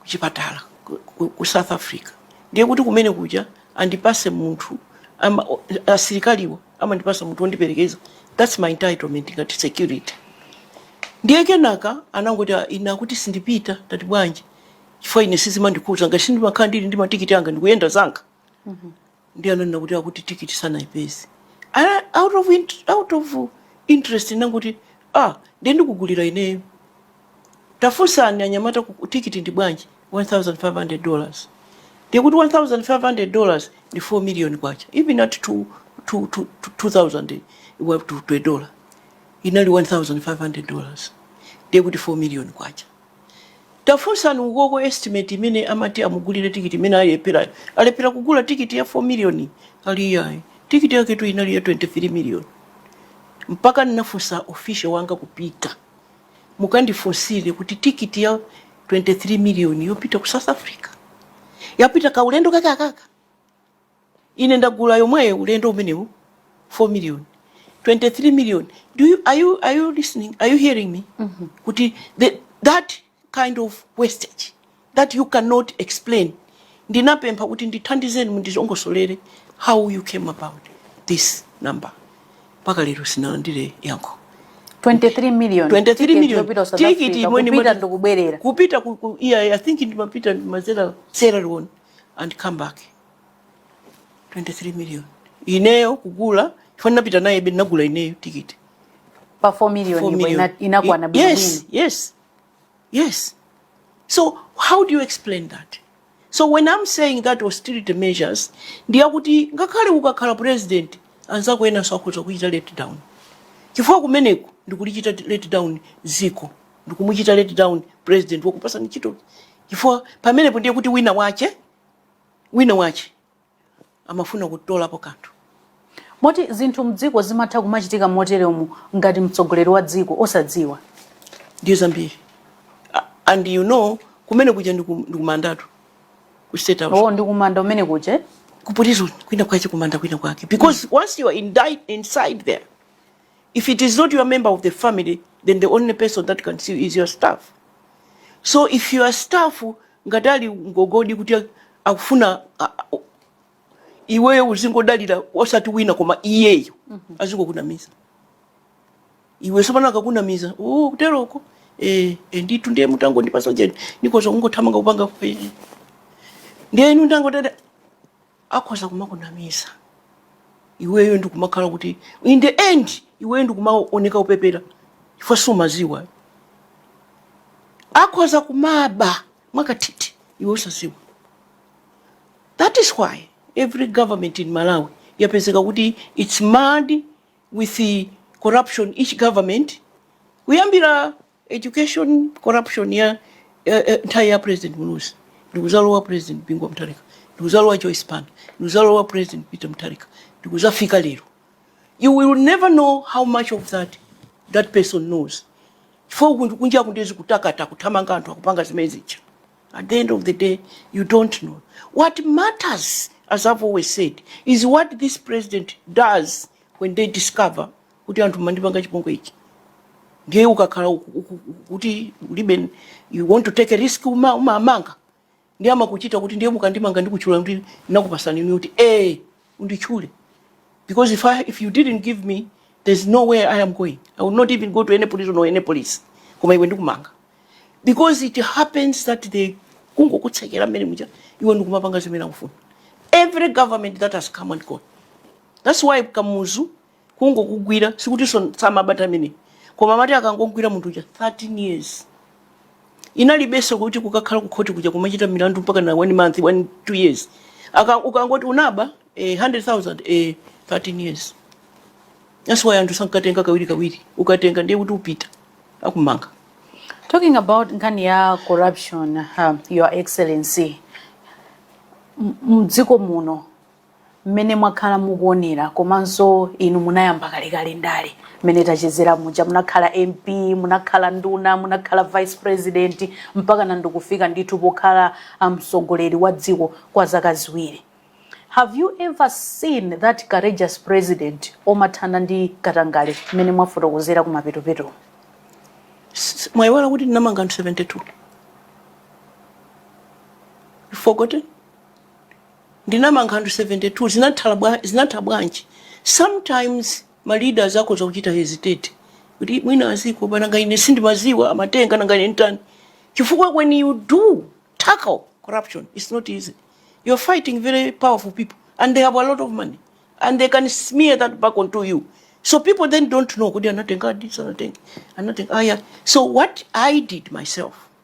kuchipatala ku, ku, ku south africa ndiye kuti kumene kuja andipatse munthu ama, o- asilikaliwo amandipatsa munthu wondiperekeza thats my entitlement ngati security ndiye kenaka anangoti "Ah, ine akuti sindipita ndati bwanji chifukwa ine sizimandikhudza ngati sindimakhala ndili ndi matikiti anga ndikuyenda zanga ndiye ananena kuti akuti tikiti sanayipeze Ana- out of, int- out of interest ndinangoti ah ndiye ndikugulira ineyo tafunsani anyamata kuti tikiti ndi bwanji 1500 dollars ndiye kuti 1500 dollars ndi 4 million kwacha even at two- two- two- two- 2000 wa- to to a dollar inali 1500 dollars ndiye kuti 4 million kwacha Tafunsani ukoko estimate imene amati amugulire ticket imene alepherayo. Alephera kugula ticket ya 4 million ali iyayi. Ticket yaketu inali ya 23 million. Mpaka ndinafunsa official wanga kuti pita. Mukandifunsire kuti ticket ya 23 million yopita ku South Africa. Yopita kaulendo kake akaka. ine ndagula yomweyo ulendo umenewu 4 million 23 million do you, are, you, are you listening are you hearing me mm -hmm. kuti the, that kind of wastage that you cannot explain ndinapempha kuti ndithandizeni mundizongosolere how you came about this number mpaka lero sinalandire yankho 23 million 23 million tikiti imweni kupita ndikubwerera kupita ku, ku, yeah, i think ndimapita mazera Sierra Leone and come back 23 million ineyo kugula chifukwa ndinapita naye be ndinagula ineyo tikiti pa 4 million 4 million. ipo ina- inakwana Ye- yes bwinobwino yes yes so how do you explain that so when i'm saying that austerity measures ndiyakuti ngakhale ukakhala president anzako enanso akhoza kukuchita let down chifukwa kumeneku ndikulichita let down ziko ndikumuchita let down president wakupatsa ntchito chifukwa pamenepo ndiye kuti wina wache wina wache amafuna kutolapo kanthu. Moti zinthu mdziko zimatha kumachitika moteremu ngati mtsogoleri wa dziko osadziwa? Ndiye zambiri. A- And you know kumene kuja ndiku- ndikumandatu ku state house. Oh, ndikumanda kumene kuja. ku prison kwina kwache kumanda kwina kwake because once you are indict, inside there if it is not your member of the family then the only person that can see you is your staff so if your staff ngati ali ngogodi kuti akufuna iweyo uzingodalira osati wina koma iyeyo mm -hmm. azingokunamiza iwe tsopano akakunamiza oh, kuteroko eh, eh, nditu ndiye mutango ndipasa ujeni ndikhoza kungothamanga kupanga fe ndiye inu ndangotha akhoza kumakunamiza iweyo ndikumakhala kuti in the end iweyo ndikumaoneka upepera chifukwa sumaziwa ayi. akhoza kumaba mwakathithi iwe usaziwa that is why every government in malawi yapezeka kuti it's marred with the corruption each government kuyambira Education corruption ya eh, eh, nthawi ya president Muluzi ndikuzalowa president Bingu wa Mutharika ndikuzalowa Joyce Banda ndikuzalowa president Peter Mutharika ndikuzafika lero you will never know how much of that that person knows chifukwa kunja kunja kundezi kutakata kuthamanga anthu akupanga zimene zija at the end of the day you don't know what matters as i've always said is what this president does when they discover kuti anthu mandipanga chipongwe ichi ndiye ukakhala uku- uku- uku- kuti ulibe you want to take a risk uma- umamanga ndiye amakuchita kuti ndiye mukandimanga ndikutchula kuti ndakupatsani inu kuti eh unditchule because if, I, if you didn't give me there's no way i am going i will not even go to any prison or any police koma iwe ndikumanga because it happens that they kungokutsekera mmene muja iwe ndikumapanga zimene akufuna every government that has come and gone that's why kamuzu kungokugwira sikutinso samabata amene koma amati akangomugwira munthu uja 13 years inalibenso kuti kukakhala kukhoti kuja kumachita milandu mpaka na one month one two years Aka, akangoti unaba eh, 100000 eh, 13 years that's why anthu sankatenga kawiri kawiri ukatenga ndiye kuti upita akumanga Talking about nkhani ya corruption, uh, Your Excellency, m- mdziko muno mmene mwakhala mukuonera komanso inu munayamba kalekale ndale mmene tachezera muja munakhala mp munakhala nduna munakhala vice president mpaka na ndikufika ndithu pokhala ah, mtsogoleri wa dziko kwa zaka ziwiri have you ever seen that courageous president omathana ndi katangale mmene mwafotokozera kumapetopeto S- mwaiwala kuti ndinamanga anthu 72 You forgotten Ndinamanga anthu 72 zinathala bwa zinatha bwanji sometimes ma leaders akhoza kuchita hesitate kuti mwina azikopa nanga ine sindimadziwa amatenga nanga ine nditani chifukwa when you do tackle corruption it's not easy you're fighting very powerful people and they have a lot of money and they can smear that back onto you so people then don't know kuti anatengadi sanatenge anatenga aya so what i did myself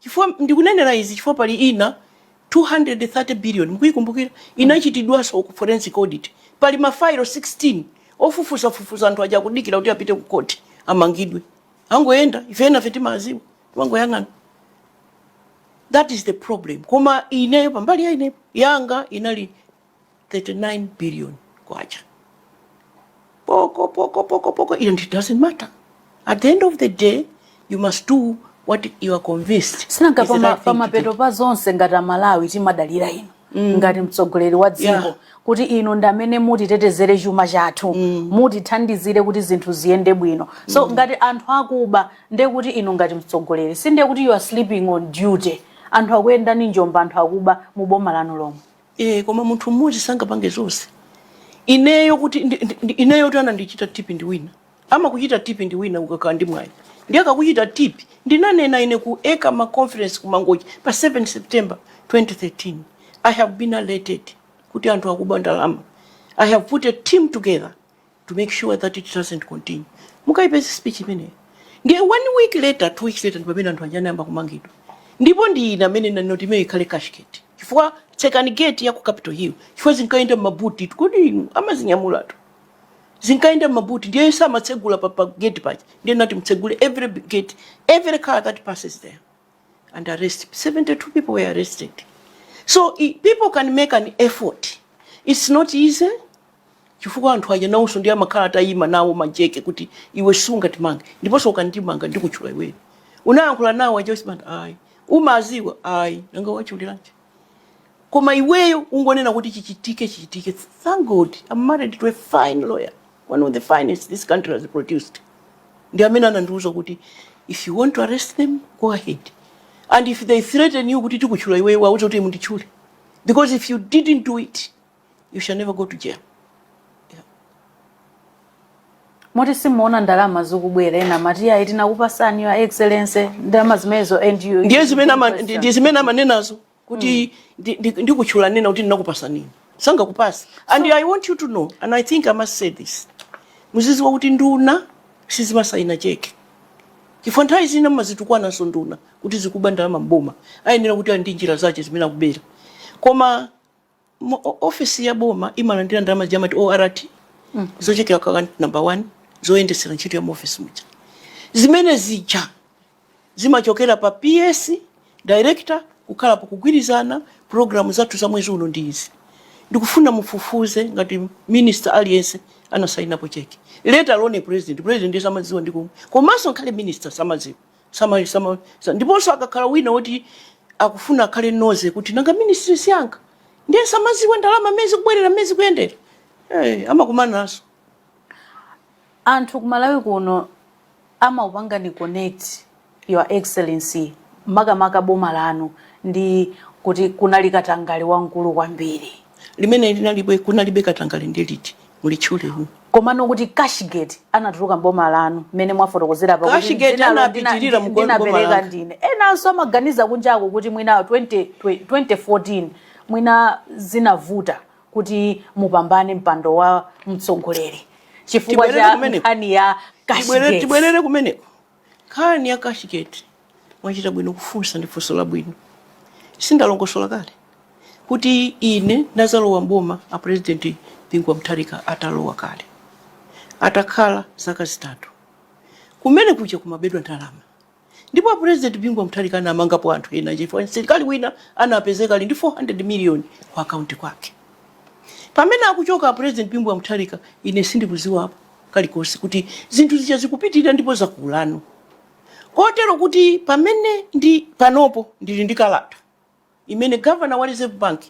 Chifukwa, ndikunenera izi chifukwa pali ina 230 billion, mukuyikumbukira? Inachitidwanso ku forensic audit. Pali ma failo 16 ofufuza fufuza anthu aja akudikira kuti apite ku court amangidwe. Angoyenda, ife enafe timawadziwa, timangoyang'ana. That is the problem. Koma ineyo pa mbali ya ineyo, yanga inali 39 billion kwacha poko poko poko poko it doesn't matter at the end of the day you must do what you are convinced sinanga pama pamapeto pa zonse ngati amalawi timadalira inu mm. ngati mtsogoleri wa dziko yeah. kuti inu ndi amene mutitetezere chuma chathu mm. mutithandizire kuti zinthu ziyende bwino so mm. ngati anthu akuba ndiye kuti inu ngati mtsogoleri sindiye kuti you are sleeping on duty anthu akuyendani njomba anthu akuba mu boma lanu lomwe Eee koma munthu mmodzi sangapange zonse. Ineyo kuti ndi, ndi, ndi- ineyo kuti anandichita tipi ndi wina. Amakuchita tipi ndi wina ukakhala ndi mwayi. Ndiye akakuchita tipi ndinanena ine ku ECAMA conference ku Mangochi pa 7 September 2013. I have been alerted kuti anthu akuba ndalama. I have put a team together to make sure that it doesn't continue mukayipeza speech imeneyo ndiye one week later two weeks later ndipamene anthu anja anayamba kumangidwa ndipo ndi ine amene ndinanena kuti imeneyo ikhale cashgate chifukwa tsekani gate ya ku capital hill chifukwa zinkayenda m'mabutitu kodi inu amazinyamulatu zinkayenda m'mabuti ndiye samatsegula pa, pa gate paja ndiye ndinati mutsegule every gate every car that passes there and arrest 72 people were arrested so i- people can make an effort it's not easy chifukwa anthu aja nawonso ndiye amakhala atayima nawo majeke kuti iwe sungatimange ndiponso ukandimanga ndikutchula iweyo unayankhula nawo aja sumati ayi umaziwa ayi nanga wachuliranji koma iweyo ungonena kuti chichitike chichitike thank god i'm married to a fine lawyer one of the finest this country has produced ndi amene anandiuza kuti if you want to arrest them go ahead and if they threaten you kuti tikutchula iweyo uwauze kuti munditchule because if you didn't do it you shall never go to jail yeah. moti simuona ndalama zikubwera ena amati ayi tinakupasani your excellency ndalama zimenezo and you ndiye zimene ama- ndi- ndi zimene amanenazo kuti ndi- ndi- ndikutchula nena kuti ndinakupasa nini sangakupasa and i want you to know and i think i must say this muziziwa kuti nduna sizimasayina cheke chifukwa nthawi zina mumazitukwananso nduna kuti zikuba ndalama mboma ayenera kuti ali ndi njira zace zimene akubera koma Mu o- ofesi ya boma imalandira ndalama zija amati ORT zochokera ku account number one zoyendetsera ntchito ya mu ofesi muja. Zimene zija zimachokera pa PS director kukhala pakugwirizana programu zathu za mwezi uno ndi izi. Ndikufuna mufufuze ngati minister aliyense anasainapo cheke. Let alone president. President ndiye samadziwa ndi komwe. Komanso ngakhale minister samadziwa. Sama, sama, sa- ndiponso akakhala wina woti akufuna akhale nosy kuti nanga ministry siyanga ndiye ndizidziwa ndalama mmene zikubwerera mmene zikuyendera hey, amakumana nazo anthu kumalawi kuno amakupangani connect your excellency makamaka boma lanu ndi kuti kunali katangale wamkulu kwambiri limene linalibe kunalibe katangale ndi liti mulitchule who. Komano kuti cashgate inatuluka m'boma lanu mmene mwafotokozera apa kuti Cashgate dzinalo ndina- inapitirira mu- m'boma ndinapereka langa. ndine. Enanso amaganiza kunjako kuti mwina 20 twe- 2014 mwina zinavuta kuti mupambane mpando wa mtsogoleri chifukwa Tibwerere cha kumeneko. nkhani ya Tibwerere- cashgate. tibwerere kumeneko Nkhani ya cashgate mwachita bwino kufunsa ndi funso labwino. Sindalongosola kale kuti ine ndinadzalowa m'boma a president Bingu wa Mutharika atalowa kale. Atakhala zaka zitatu. Kumene kuja kumabedwa ndalama. Ndipo a president Bingu wa Mutharika anamangapo anthu ena chifukwa msilikali wina anapezeka ali ndi 400 million ku account kwake. Pamene akuchoka a president Bingu wa Mutharika ine sindikudziwapo. kalikonse kuti zinthu zija zikupitirira ndipo zakulano kotero kuti pamene ndi panopo ndili ndi kalata imene governor wa reserve bank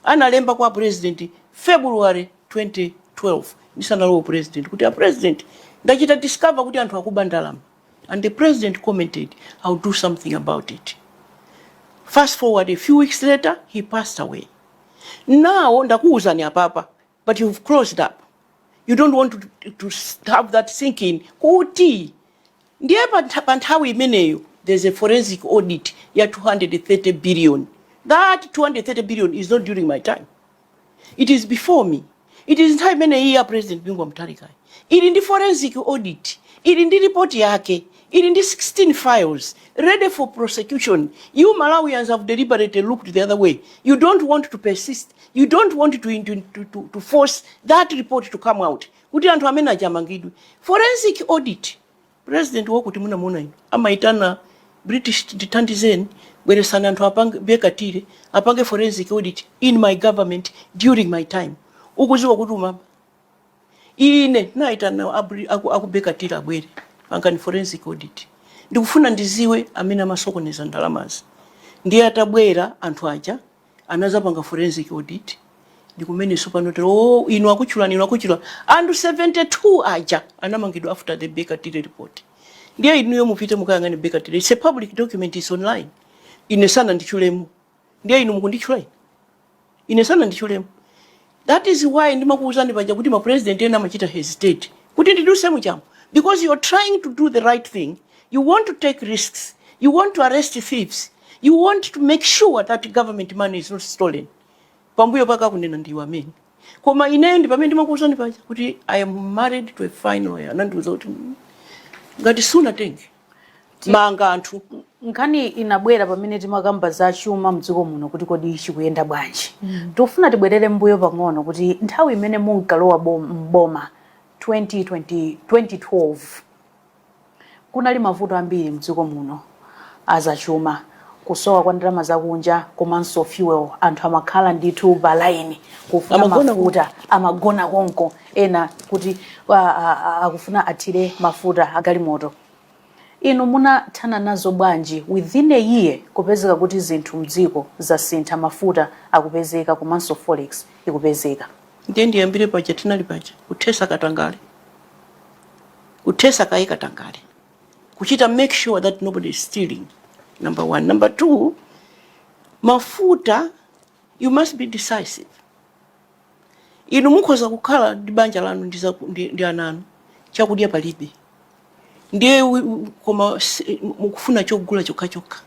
analemba kwa a president february 2012 ndisanalowe u president kuti a president ndachita discover kuti anthu akuba ndalama and the president commented i'll do something about it fast forward a few weeks later he passed away now ndakuwuzani apapa but you've closed up you don't want to, to have that thinking kuti ndiye pantha- pa nthawi imeneyo there's a forensic audit ya 230 billion that 230 billion is not during my time it is before me it is nthawi imeneyi ya president bingu wa mutharika ili ndi forensic audit ili ndi report yake Ili ndi 16 files ready for prosecution, you Malawians have deliberately looked the other way, you don't want to persist, you don't want to, to, to, to, to force that report to come out kuti anthu amene aja amangidwe. Forensic audit, president wakuti munamuona inu amaitana British tithandizeni bweresani anthu apange Baker Tilly apange forensic audit in my government during my time ukuziwa kuti umaba Ine naitana a Bri- aku aku Baker Tilly abwere pangani forensic audit. Ndikufuna ndiziwe amene amasokoneza ndalamazi. Ndiye atabwera anthu aja anazapanga forensic audit ndikumene sopano tero oh, inu akutchulani inu akutchula anthu 72 aja anamangidwa after the Baker Tilly report. Ndiye inuyo mupite mukayang'ane Baker Tilly. It's a public document, it's online. Ine sananditchulemo. ndiye inu mukunditchula ine ine sananditchulemo that is why ndimakuwuzani paja kuti ma president ena amachita hesitate kuti ndiduse muchamo because you're trying to do the right thing you want to take risks you want to arrest thieves you want to make sure that government money is not stolen pambuyo pake akunena ndiwe amene koma ineyo ndi pamene ndimakuwuzani paja kuti i am married to a fine lawyer anandiwuza kuti ngati sunatenge manga anthu nkhani inabwera pamene timakamba za chuma mdziko muno kuti kodi chikuyenda bwanji tikufuna tibwerere mbuyo pang'ono kuti nthawi imene munkalowa bom- m'boma 2012 kunali mavuto ambiri mdziko muno azachuma kusowa kwa ndalama zakunja komanso fuel anthu amakhala ndithu palaini kufuna mafuta amagona konko ena kuti akufuna athire mafuta agalimoto inu munathana nazo bwanji within a year kupezeka kuti zinthu mdziko zasintha mafuta akupezeka komanso forex ikupezeka ndiye ndiyambire paja tinali paja kuthesa katangale kuthesa kaye katangale kuchita make sure that nobody is stealing number one number two mafuta you must be decisive Inu mukhoza kukhala ndi banja lanu ndi, za, ndi, ndi ana anu, chakudya palibe, ndiye koma mukufuna chogula chokha chokha,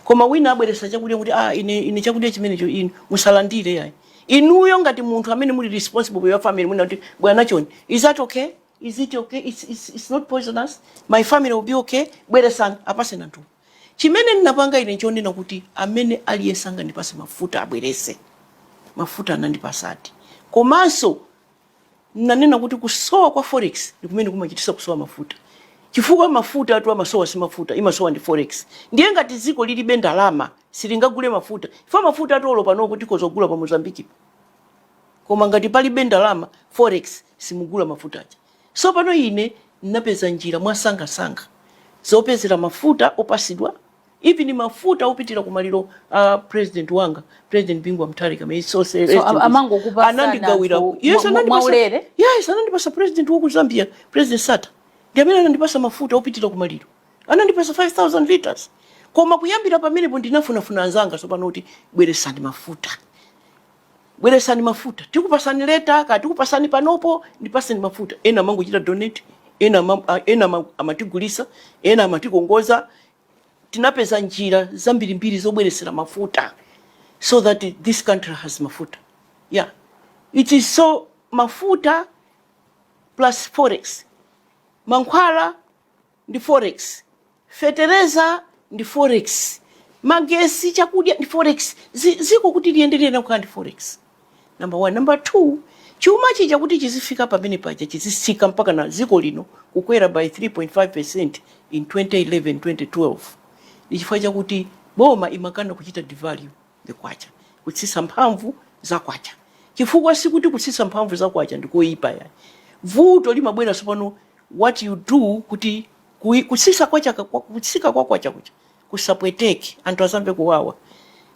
koma wina abweretsa chakudya kuti ine chakudya chimenecho inu musalandire yayi. Inuyo ngati munthu amene muli responsible for your family munena kuti bwana chonde, is that okay? Is it okay? It's, it's, it's not poisonous. My family will be okay. Bweresani apaseni anthu. Chimene ndinapanga ine nchonena kuti amene aliyense angandipase mafuta abwerese. Mafuta anandipasadi. Komanso ndinanena kuti kusowa kwa forex ndikumene kumachitisa kusowa mafuta. Chifukwa mafutatu amasowa si mafuta, imasowa ndi forex. Ndiye ngati dziko lilibe ndalama silingagule mafuta chifukwa mafutatu olo panopo tikhoza kugula pa Mozambiquepo. Koma ngati palibe ndalama, forex, simugula mafuta aja. Tsopano, ine ndinapeza njira mwasangasanga zopezera mafuta opasidwa, even mafuta opitira ku maliro a purezidenti wanga, Purezidenti Bingu wa Mutharika, may his soul rest in peace. So, amangokupatsani anandigawira, anthu yes, mwa- anandipasa, mwaulere? yes, anandipasa purezidenti wa ku Zambia, Purezidenti Sata, ndi amene anandipasa mafuta opitira ku maliro, anandipasa 5000 liters. Koma kuyambira pamenepo ndinafunafuna anzanga tsopano kuti bweresani mafuta. bweresani mafuta tikupasani later katikupasani panopo ndipasani mafuta ena amangochita donate ena ama- a- ena ama- amatigulisa ena amatikongoza tinapeza njira zambirimbiri zobweresera mafuta so that this country has mafuta yeah it is so mafuta plus forex mankhwala ndi forex, fetereza ndi forex, magesi, chakudya ndi forex, dziko kuti liyende liyenera kukhala ndi forex number one. Number two, chuma chija kuti chizifika pamene paja chizisika mpaka na dziko lino kukwera by 3.5% in 2011 2012 ndi chifukwa chakuti boma imakana kuchita devalue. the kwacha, kutsitsa mphamvu za kwacha. Chifukwa sikuti kutsitsa mphamvu za kwacha ndi koyipa yayi. Vuto limabwera tsopano what you do kuti kutsitsa kwacha kutsika kwa kwacha kuja kusapweteke anthu asamve kuwawa.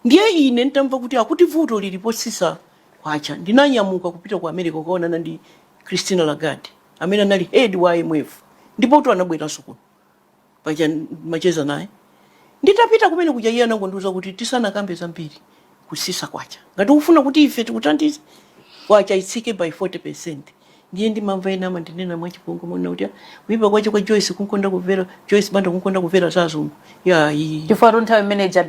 Ndiye ine ntamva kuti akuti vuto lili potsitsa kwacha ndinanyamuka kupita ku America kukaonana ndi Christine Lagarde amene anali head wa IMF ndipotu anabweranso kuno. paja ndimacheza naye nditapita kumene kuja iye anangondiuza kuti tisanakambe zambiri kutsitsa kwacha ngati ukufuna kuti ife tikuthandize kwacha itsike by 40 percent ndiye ndimamva ena amandinena mwachipongwe mona kuti "Ah, kuipa kwache kwa Joyce kumkonda kumvera Joyce Banda kumkonda kumvera za azungu iyayi chifukwatu nthawi imene ija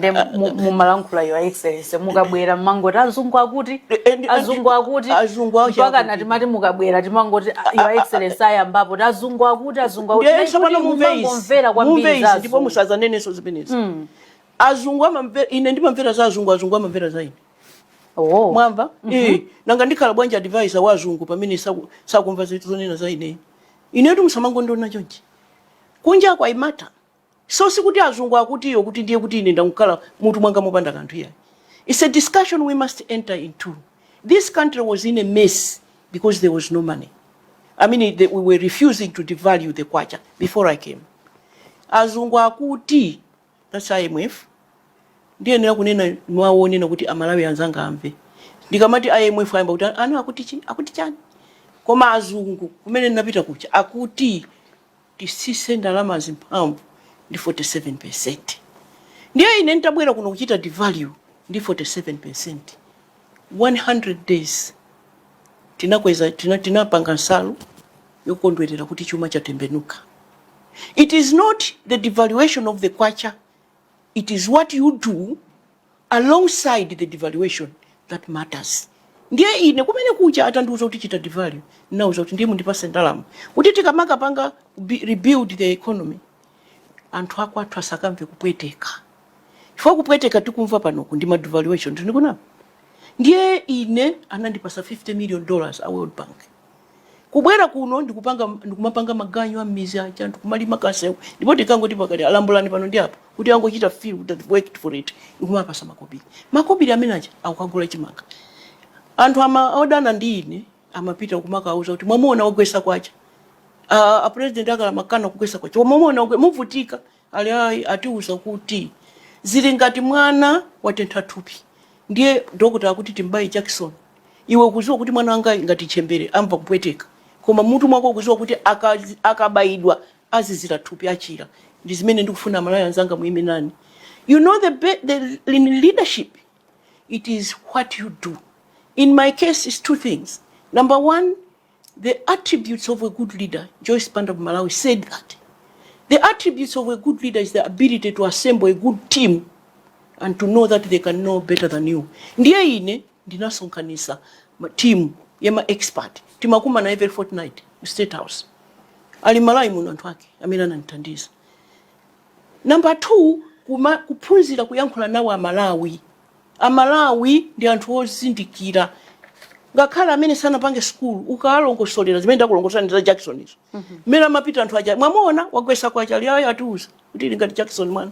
mumalankhula Your Excellency mukabwera mmangoti azungu akuti and- azungu akuti azungu ache mpaka akuti. ndiye timati mukabwera timangoti Your Excellency ayambapo ti azungu akuti azungu Azungu akuti, Ndiye tsopano kuti mumve izi, mumangomvera mumve kwambiri za izi ndipo azungu. musazanenenso zimenezi azungu amamvera ine ndimamvera za azungu azungu amamvera za ine Oh. mwamva Eh, nanga ndikhala bwanji advisor wa azungu pamene saku- sakumva zinthu zonena za ine inetu musamangondiona chonchi kunja kwa Malawi So sikuti azungu akuti ndiye kuti ndiye kuti ine ndangokhala mutu mwanga mopanda kanthu iyayi. It's a discussion we must enter into. This country was in a mess because there was no money. I mean, the, we were refusing to devalue the kwacha before I came. Azungu akuti, that's IMF, ndiyenera kunena mwaona kuti amalawi anzanga amve ndikamati imf ayamba kuti ana akuti chi akuti chani koma azungu kumene ndinapita kuja akuti titsitse ndalamazi mphamvu ndi 47%. Ndiye ine n'tabwera kuno kuchita devalue ndi 47%, 100 days tinakweza tina, tinapanga nsalu yokondwerera kuti chuma chatembenuka. It is not the devaluation of the kwacha, it is what you do alongside the devaluation that matters ndiye ine kumene kuja atandiuza kuti chita devalue ndinauza kuti ndiye mundipatse ndalama kuti tikamakapanga bi- rebuild the economy anthu akwathu asakamve kupweteka chifukwa kupweteka tikumva pano ndi madevaluation tili kunowa ndiye ine anandipatsa 50 million dollars a world bank kubwera kuno ndikupanga ndikumapanga maganyu a m'midzi aja anthu kumalima kasewu ndipo tikangoti pakati alambulani pano ndi apo kuti angochita feel that they worked for it ndikumapatsa makobiri makobiri amene aja akukagula chimanga anthu ama odana ndi ine amapita kumakawauza kuti mwamuona wagwetsa kwacha a a president akale amakana kugwetsa kwacha mwamuona wagwe- muvutika Ali ayi atiuza kuti, Zili ngati mwana watentha thupi ndiye dokotala akuti tim'baye jakisoni. Iwe ukudziwa kuti mwana wangayu ngati ntchembere amva kupweteka, koma m'mutu mwako ukudziwa kuti akabaidwa azizira thupi, achira. Ndi zimene ndikufuna Amalawi anzanga muime nane. You know the the in leadership it is what you do. In my case it's two things, number one, The Attributes of a Good Leader, Joyce Banda of Malawi, said that the attributes of a good leader is the ability to assemble a good team and to know that they can know better than you. Ndiye ine ndinasonkhanisa team ya ma expert timakumana every fortnight ku State House. Ali Malawi muno anthu ake amene anandithandiza. Number two, kuma, kuphunzira kuyankhula nawo a Malawi. A Malawi ndi anthu ozindikira ngakhale amene sanapite sukulu ukawalongosolera zimene ndakulongosolani za Jacksonizo mmene amapita anthu aja mwamuona wagwesa kwacha ali ayi atiuza kuti ili ngati Jackson mwana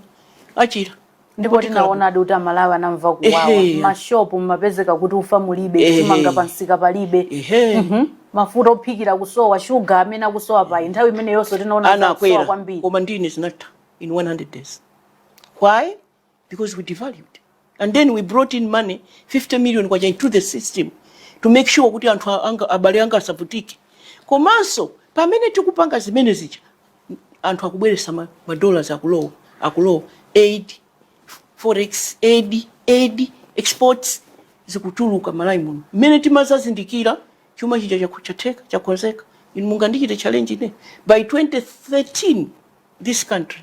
achira ndipo tinaonadi kuti amalawi anamva kuwawa Ehe. mashopu mumapezeka kuti ufa mulibe Ehe. chimanga pansika palibe ehe Mhm. mafuta ophikira kusowa shuga amene akusowa pano nthawi imeneyonso tinaona kuti akusowa anakwera kwambiri koma ndiye zinatha in 100 days why because we devalued and then we brought in money 50 million kwacha into the system to make sure kuti anthu a- anga, abale anga asavutike komanso pamene tikupanga zimene zija anthu akubweresa ma, ma dollars akulowa akulowa aid forex aid aid exports zikutuluka malawi muno mmene timazazindikira chuma chija chaku- chatheka chakhonzeka inu mungandichite challenge ine by 2013 this country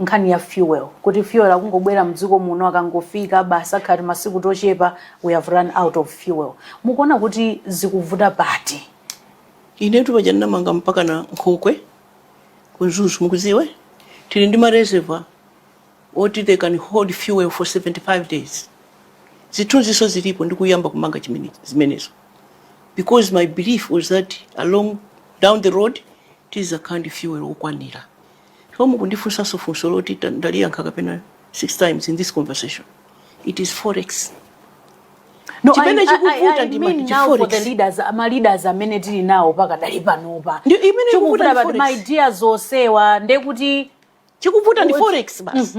nkhani ya fuel kuti fuel akungobwera mdziko muno akangofika basi akhala timasiku tochepa we have run out of fuel mukuona kuti zikuvuta pati inetu paja ndinamanga mpaka na nkhokwe ku Mzuzu mukuziwa tili ndi mareservoir oti they can hold fuel for 75 days zithunziso zilipo ndikuyamba kumanga chimene- zimenezo because my belief was that along down the road tizakhala ndi fuel okwanira Chifukwa mukundifunsanso funso loti ta- ndaliyankha kapena six times in this conversation. It is forex. No, I, Chimene I, I, chikuvuta I ndi mean now for the forex. leaders, ma leaders amene tili nawo pakadali panopa. Ndi imene Chikuvuta ikuvuta ndi but my forex. dear zosowa ndekuti Chikuvuta ndi forex basi.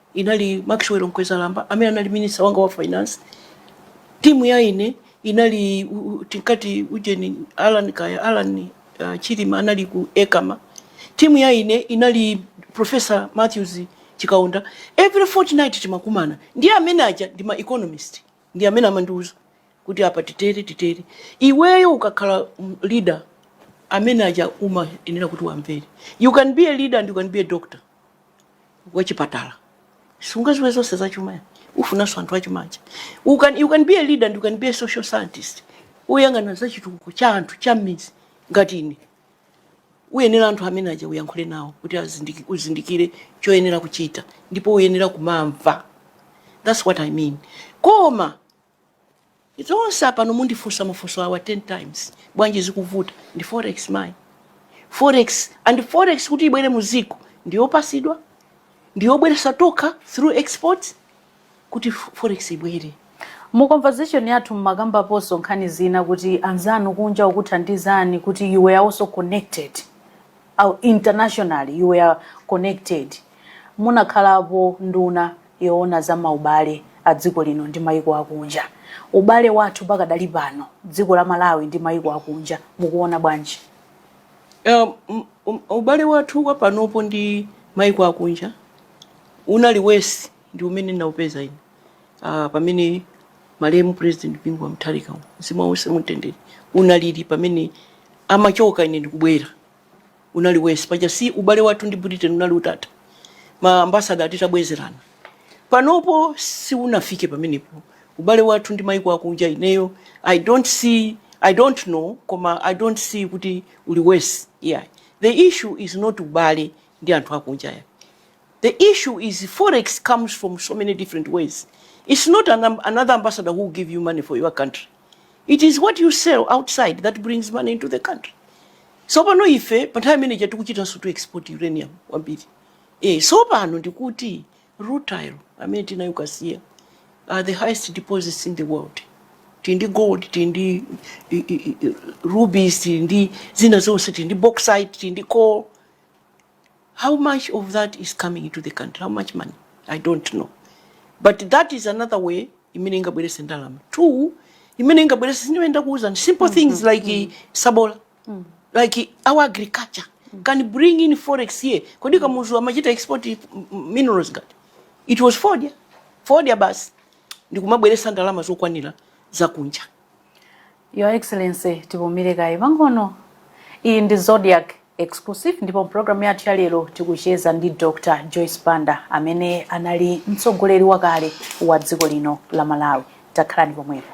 Inali Maxwell Mkwezalamba amene anali minister wanga wa finance. Team ya ine inali tinkati ujeni Alan kaya, Alan uh, Chilima anali ku ECAMA. Team ya ine inali Professor Matthews Chikaonda. Every fortnight timakumana. Ndiye amene aja ndi ma economist. Ndiye amene amandiuza kuti apa titere titere. Iweyo ukakhala mm, leader amene aja umayenera kuti uwamvere. You can be a leader and you can be a doctor. wa chipatala sungaziwe zonse za chuma ya ufunanso anthu achuma aja you can, you can be a leader and you can be a social scientist uyang'ana za chitukuko cha anthu cha m'mizi ngati ine uyenera anthu amene aja uyankhule nawo kuti azindiki- uzindikire choyenera kuchita ndipo uyenera kumawamva that's what i mean koma It's also pano mundifunsa mafunso awa 10 times. Bwanji zikuvuta ndi forex mai? Forex and forex kuti ibwere mu dziko ndiyopatsidwa, ndiyobweretsa tokha through exports kuti forex ibwere. Mu conversation yathu mumakambaponso nkhani zina kuti anzanu kunja okuthandizani kuti you were also connected internationally, you were connected, munakhalapo nduna yoona za maubale a dziko lino ndi maiko akunja. Ubale wathu pakadali pano dziko la Malawi ndi maiko akunja mukuuona bwanji? Um, um, ubale wathu kwa panopo ndi maiko akunja unali worse ndi umene ndinaupeza ine uh, pamene malemu president Bingu wa Mutharika mzimu wawo uwuse mumtendere unalili pamene amachoka ine ndikubwera unali worse paja si ubale wathu ndi britain unali utatha ma ambassador titabwezerana panopo siunafike pamenepo ubale wathu ndi maiko akunja ineyo i don't see i don't know koma i don't see kuti uli worse yeah the issue is not ubale ndi anthu akunja ya the issue is forex comes from so many different ways it's not an, another ambassador who will give you money for your country it is what you sell outside that brings money into the country so pano ife pa nthawi imeneija tikuchitanso to export uranium kwambiri e, so pano ndikuti rutile amene tinayo kasiya are the highest deposits in the world tili ndi gold tili ndi rubies tili ndi zina zonse tili ndi bauxite tili ndi coal How much of that is coming into the country? How much money? I don't know. But that is another way imene ingabweretse ndalama. Two, imene ingabweretse ndimene ndakuuzani simple things mm-hmm. like mm-hmm. sabola. Mm. Like our agriculture mm. can bring in forex here. Kodi kamuzu amachita export minerals ngati. It was fodya. Fodya basi. Ndikumabweretsa ndalama zokwanira zakunja. Your Excellency, tipumire kaye pang'ono. Iyi ndi Zodiak Exclusive ndipo mupulogalamu yathu ya lero tikucheza ndi Dr. Joyce Banda amene anali mtsogoleri wakale wa dziko lino la Malawi. Takhalani pomwepo.